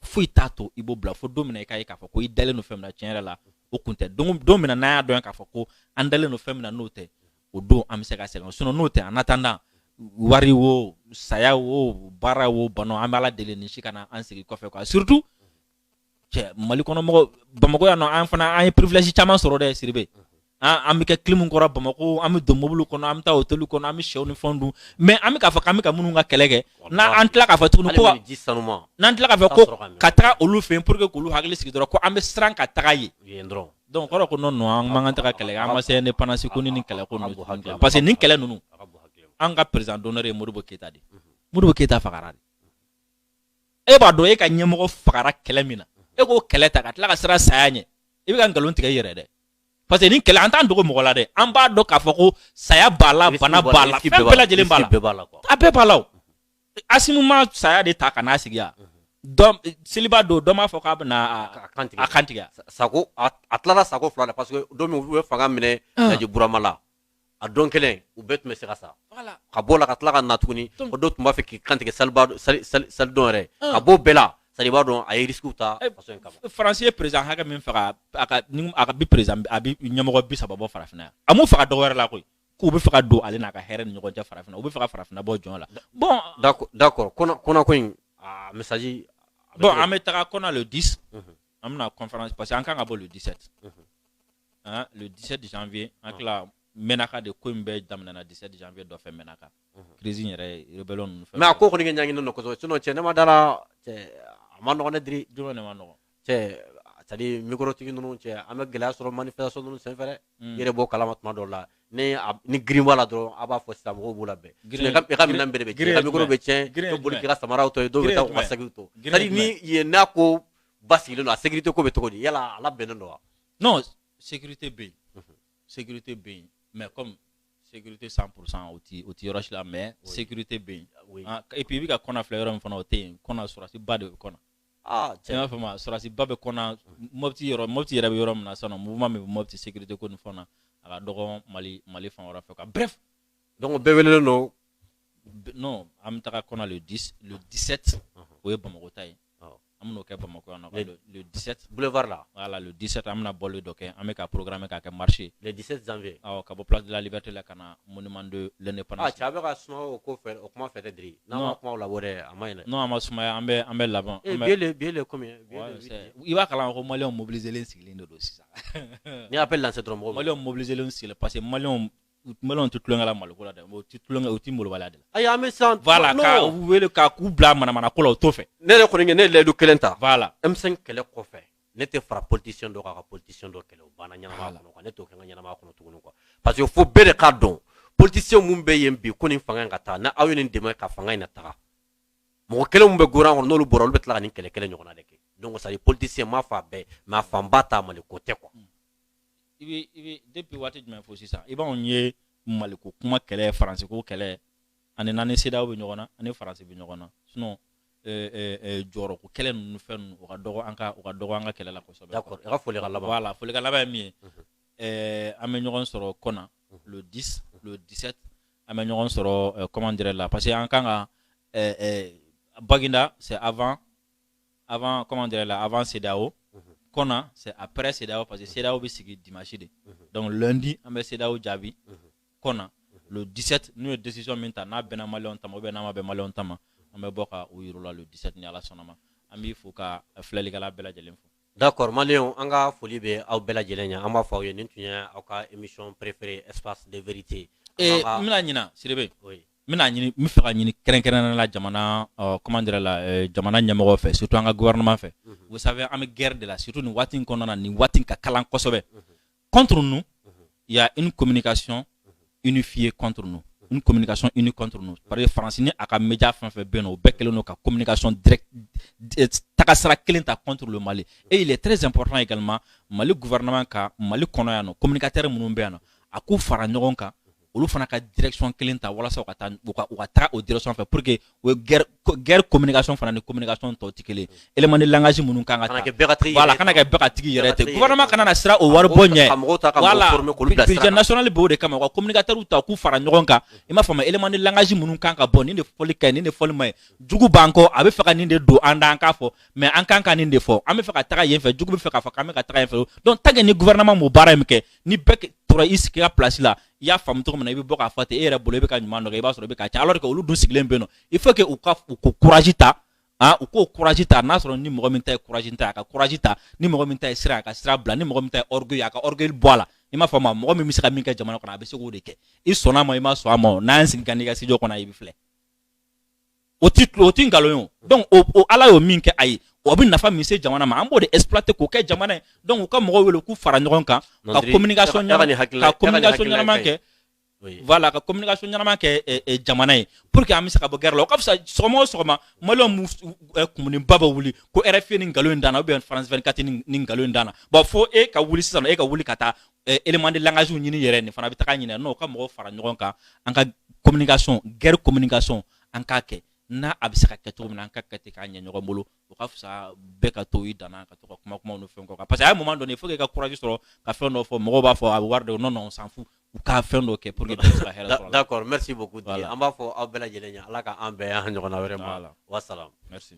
foyi t'a to i b'o bila fo don min na i k'a ye k'a fɔ ko i dalen don fɛn min na tiɲɛ yɛrɛ la o kun tɛ don don min na n'an y'a dɔn k'a fɔ ko an dalen don fɛn min na n'o tɛ o don an bɛ se ka sɛgɛn sinon n'o tɛ en attendant wari wo saya wo baara wo bana wo an bɛ ala deli nin si kana an sigi kɔfɛ quoi surtout cɛ mali kɔnɔ mɔgɔ bamakɔ yan non an fana an ye privilège caman sɔrɔ dɛ sidibe an bɛ kɛ kilimu kɔrɔ bamakɔ an bɛ don mobili kɔnɔ an bɛ taa hôtel kɔnɔ an bɛ shɛw ni fɛn dun mais an bɛ k'a fɔ k'an bɛ ka minnu ka kɛlɛ kɛ n'an tila k'a fɔ tuguni ko n'an tila k'a fɔ ko ka taa olu fɛ yen pour que k'olu hakili sigi dɔrɔn ko an bɛ siran ka taga yen dɔrɔn donc o kɔrɔ ko non an ka taga kɛlɛ an ma se ne pense ko nin kɛlɛ ko parce que nin kɛlɛ ninnu an ka président d'honneur ye modibo keyita de modibo keyita fagara e b'a dɔn e ka ɲɛmɔgɔ fagara kɛlɛ min na e k'o kɛlɛ ta ka tila ka siran saya ɲɛ i bɛ ka nkalon tigɛ i yɛrɛ dɛ parce que nin kɛlɛ an t'an dogo mɔgɔ la dɛ an b'a dɔn k'a fɔ ko saya b'a la bana b'a la fɛn bɛɛ lajɛlen b'a la a bɛɛ b'a la o asimi ma saya de ta ka n'a sigi yan seliba don dɔ m'a fɔ k'a bɛna a kan tigɛ sako a tilala sako fila la parce que don min u ye fanga minɛ ah. burama la a don kelen u bɛɛ tun bɛ se ka sa ka bɔ la ka tila ka na tuguni o dɔw tun b'a fɛ k'i kantigɛ salidon yɛrɛ ka bɔ bɛɛ la c'est à dire i b'a dɔn a ye risques ta eh, faso in kama faransi ye président hakɛ min faga a ka ni a ka bi président a bi ɲɛmɔgɔ bi saba bɔ farafinna yan a m'u faga dɔwɛrɛ la koyi k'u bɛ fɛ ka don ale n'a ka hɛrɛ ni ɲɔgɔn cɛ farafinna u bɛ fɛ ka farafinna bɔ jɔn la bon d'accord Kɔna ko in a message bon an bɛ taga Kɔna le 10 mhm. an bɛna conférence parce que an kan ka bɔ le 17 Hein, le 17 janvier an ah. tila mɛnaka de ko in bɛɛ daminɛna 17 janvier dɔ fɛ mɛnaka mhm. crise in yɛrɛ rebellion ninnu fɛ mais a ko kɔni kɛ ɲaŋinen don kosɛbɛ sinon cɛ ne ma da la cɛ a ma nɔgɔn dɛ diri jumɛn de ma nɔgɔn cɛ c'est à dire mikorotigi ninnu cɛ an bɛ gɛlɛya sɔrɔ manifestation ninnu sen fɛ dɛ hmm. i yɛrɛ b'o kalama tuma dɔw la ni ni girin b'a la dɔrɔn a b'a fɔ sisan mɔgɔw b'u labin i ka minɛn bɛɛ de bɛ tiɲɛ i ka mikoro bɛ tiɲɛ i bɛ boli k'i ka samaraw to yen dɔw bɛ taa u ka sakiw to c'est à dire ni yen n'a ko basigilen don a sécurité ko bɛ cogo di yala a labɛnnen don wa non sécurité bɛ yen sécurité bɛ yen mais comme sécurité 100 pour cent o ti o ti yɔrɔ si la mais sécurité bɛ yen Oui. Ah, et puis i bɛ ka Kɔna filɛ yɔrɔ min fana o tɛ yen Kɔna sɔrɔsi ba de bɛ Kɔna Ah, i m'a faamu wa sɔrɔsi ba bɛ Kɔna mɔpiti yɔrɔ mɔpiti yɛrɛ bɛ yɔrɔ min na sisan nɔ mouvement min bɛ mɔpiti sécurité ko nin fan na a ka dɔgɔn mali mali fan wɛrɛ fɛ quoi bref donc bɛɛ welelen don b- non an bɛ taga Kɔna le 10 le 17 o ye bamakɔ ta ye Awɔ. an bɛn'o kɛ Bamakɔ yan nɔ le, le, le 17 boulevard la voilà le 17 an bɛna bɔli dɔ kɛ an bɛ ka programmer k'a kɛ marché le 17 janvier awɔ ka bɔ place de la liberté la ka na monument de l'indépendance ah cɛ a bɛ ka suma o ko fɛ o kuma fɛ dɛ Diri n'an ma kuma o la o dɛ a ma ɲi dɛ non a ma sumaya an bɛ an bɛ laban eh, bi ye le bi ye le combien i b'a kalama ko maliyɛnw mobiliser len sigilen de don sisan n'i y'a appel lancer dɔrɔn mɔgɔw maliyɛnw mobiliser len sigilen parce que maliyɛnw u tun bɛlen tɛ tulonkɛ la maliko la dɛ u tɛ tulonkɛ u tɛ molobaliya de la ayi an bɛ sisan voilà non. ka u wele ka k'u bila manamana ko la o t'o fɛ ne yɛrɛ kɔni ye ne ye layidu kelen ta voilà M5 kɛlɛ kɔfɛ ne tɛ fara politicien dɔ kan ka politicien dɔ kɛlɛ o banna ɲɛnamaya kɔnɔ quoi ne t'o kɛ n ka ɲɛnamaya kɔnɔ tuguni quoi parce que fo bɛɛ de k'a dɔn politicien minnu bɛ yen bi ko nin fanga in ka taa ni aw ye nin dɛmɛ ka fanga in na taga mɔgɔ kelen min bɛ gouvernement kɔnɔ n'olu bɔra olu bɛ tila ka nin kɛlɛ kelen ɲɔgɔnna de kɛ donc c'est à dire politicien m'a fɔ a bɛɛ mais a fanba ta mali ko tɛ quoi i bɛ i bɛ depuis waati jumɛn fo sisan i b'anw ye maliko kuma kɛlɛ faransiko kɛlɛ ani n'an ni CEDEAO bɛ ɲɔgɔn na an ni faransi bɛ ɲɔgɔn na sinon euh, euh, euh, jɔyɔrɔko kɛlɛ ninnu fɛn ninnu o ka dɔgɔ an ka o ka dɔgɔ an ka kɛlɛ la kosɛbɛ. D'accord i ka foli ka laban. Voilà foli ka laban ye min ye. Mhm. Euh, an bɛ ɲɔgɔn sɔrɔ Kɔna mhm. le 10 le 17 an bɛ ɲɔgɔn sɔrɔ euh, comment dire là parce que an kan ka euh, euh, Baginda c'est avant avant comment dire là avant CEDEAO kɔna c'est après CEDEAO parce que CEDEAO bɛ sigi dimanche de donc lundi an bɛ CEDEAO jaabi kɔna le 17 n'u ye décision min ta n'a bɛnna maliyɛnw ta ma ou bien n'a ma bɛn maliyɛnw ta ma an bɛ bɔ ka o yir'u la le 17 ni Ala sɔnn'a ma an b'i fo ka filɛlikɛla bɛɛ lajɛlen fo. D'accord maliyɛnw an ka foli bɛ aw bɛɛ lajɛlen ye an b'a fɔ aw ye nin tun ye aw ka émission préférée espace de vérité. Ee n bɛna ɲina Sidibe. Oui. n bɛna ɲini n bɛ fɛ ka ɲini kɛrɛnkɛrɛnnenya la jamana ɔ comment dire là euh, jamana ɲɛmɔgɔ fɛ surtout an ka gouvernement fɛ mhm. vous savez an bɛ guerre de la surtout nin waati in kɔnɔna na nin waati ka kalan kosɛbɛ mhm. contre nous mhm. il y a une communication unifiée contre nous une communication unie contre nous parce que faransi ni a ka média fɛn fɛn bɛ yen nɔ o bɛɛ kɛlen don ka communication direct euh, tagasira kelen ta contre le mali et il est très important également mali gouvernement ka mali kɔnɔ yan nɔ communicateurs minnu bɛ yan nɔ a k'u fara ɲɔgɔn kan olu fana ka direction kelen ta walasa ka taa u ka u ka taga o direction fɛ pour que o ye guerre guerre communication fana ni communication tɔ tɛ kelen élément de langage minnu kan ka ta voilà kana kɛ bɛɛ ka tigi yɛrɛ tɛ gouvernement kana na siran o wari bɔ ɲɛ voilà budget national b'o de kama u ka communicateurs ta k'u fara ɲɔgɔn kan i m'a faamu élément de langage minnu kan ka bɔ nin de fɔli ka ɲi nin de fɔli man ɲi jugu b'an kɔ a bɛ fɛ ka nin de don an da an k'a fɔ mais an kan ka nin de fɔ an bɛ fɛ ka taga yen fɛ jugu bɛ fɛ k'a fɔ k'an bɛ ka taga yen fɛ donc tant que ni gouvernement m'o baara in kɛ ni bɛɛ tora i sigi ka place la i y'a faamu cogo min na i bɛ bɔ k'a fɔ ten e yɛrɛ bolo i bɛ ka ɲuman dɔ kɛ i b'a sɔrɔ i bɛ k'a cɛn alors que olu dun sigilen bɛ yen nɔ il faut que u ka u ko courage ta ah u k'o courage ta n'a sɔrɔ ni mɔgɔ min ta ye courage ta a ka courage ta ni mɔgɔ min ta ye siran a ka siran bila ni mɔgɔ min ta ye orgueil a ka orgueil bɔ a la i m'a faamu mɔgɔ min bɛ se ka min kɛ jamana kɔnɔ a bɛ se k'o de kɛ i sɔnna a ma i ma sɔn a ma o n'an y'an sigi ka n'i ka studio kɔnɔ i bɛ filɛ o tɛ tulo o tɛ nkalon ye o donc o o Ala y'o min kɛ a ye o bɛ nafa min se jamana ma an b'o de exploiter k'o kɛ jamana ye donc u ka mɔgɔw wele k'u fara ɲɔgɔn kan ka communication ɲɛnama ka communication ɲɛnama kɛ voilà ka communication ɲɛnama kɛ eh, eh, jamana ye pour que an bɛ se ka bɔ guerre la o ka fisa sɔgɔma o sɔgɔma maliyɛnw b'u s- u- eh, kumuninba bɛ wuli ko RFI nin nkalon in d'an na ou bien France 24 nin nin nkalon in d'an na bon fo e ka wuli sisan nɔ e ka wuli ka taa élément de langage ɲini yɛrɛ nin fana bɛ taga ɲini nɔ u ka mɔgɔw fara ɲɔgɔn kan an ka communication guerre communication an k'a kɛ n'a a bɛ se ka kɛ cogo min na an ka kɛ ten k'a ɲɛ ɲɔgɔn bolo o ka fisa bɛɛ ka to i dan na ka to ka kuma kumaw ni fɛn kɔ parce que à un moment donné faut qu'i ka courage sɔrɔ ka fɛn dɔ fɔ mɔgɔw b'a fɔ a bɛ wari de non non on s'en fout u ka fɛn dɔ kɛ pour que bɛɛ se ka hɛrɛ sɔrɔ d'accord merci beaucoup Didier an b'a fɔ aw bɛɛ lajɛlen ye Ala ka an bɛn a ɲɔgɔnna wɛrɛ ma wa salam merci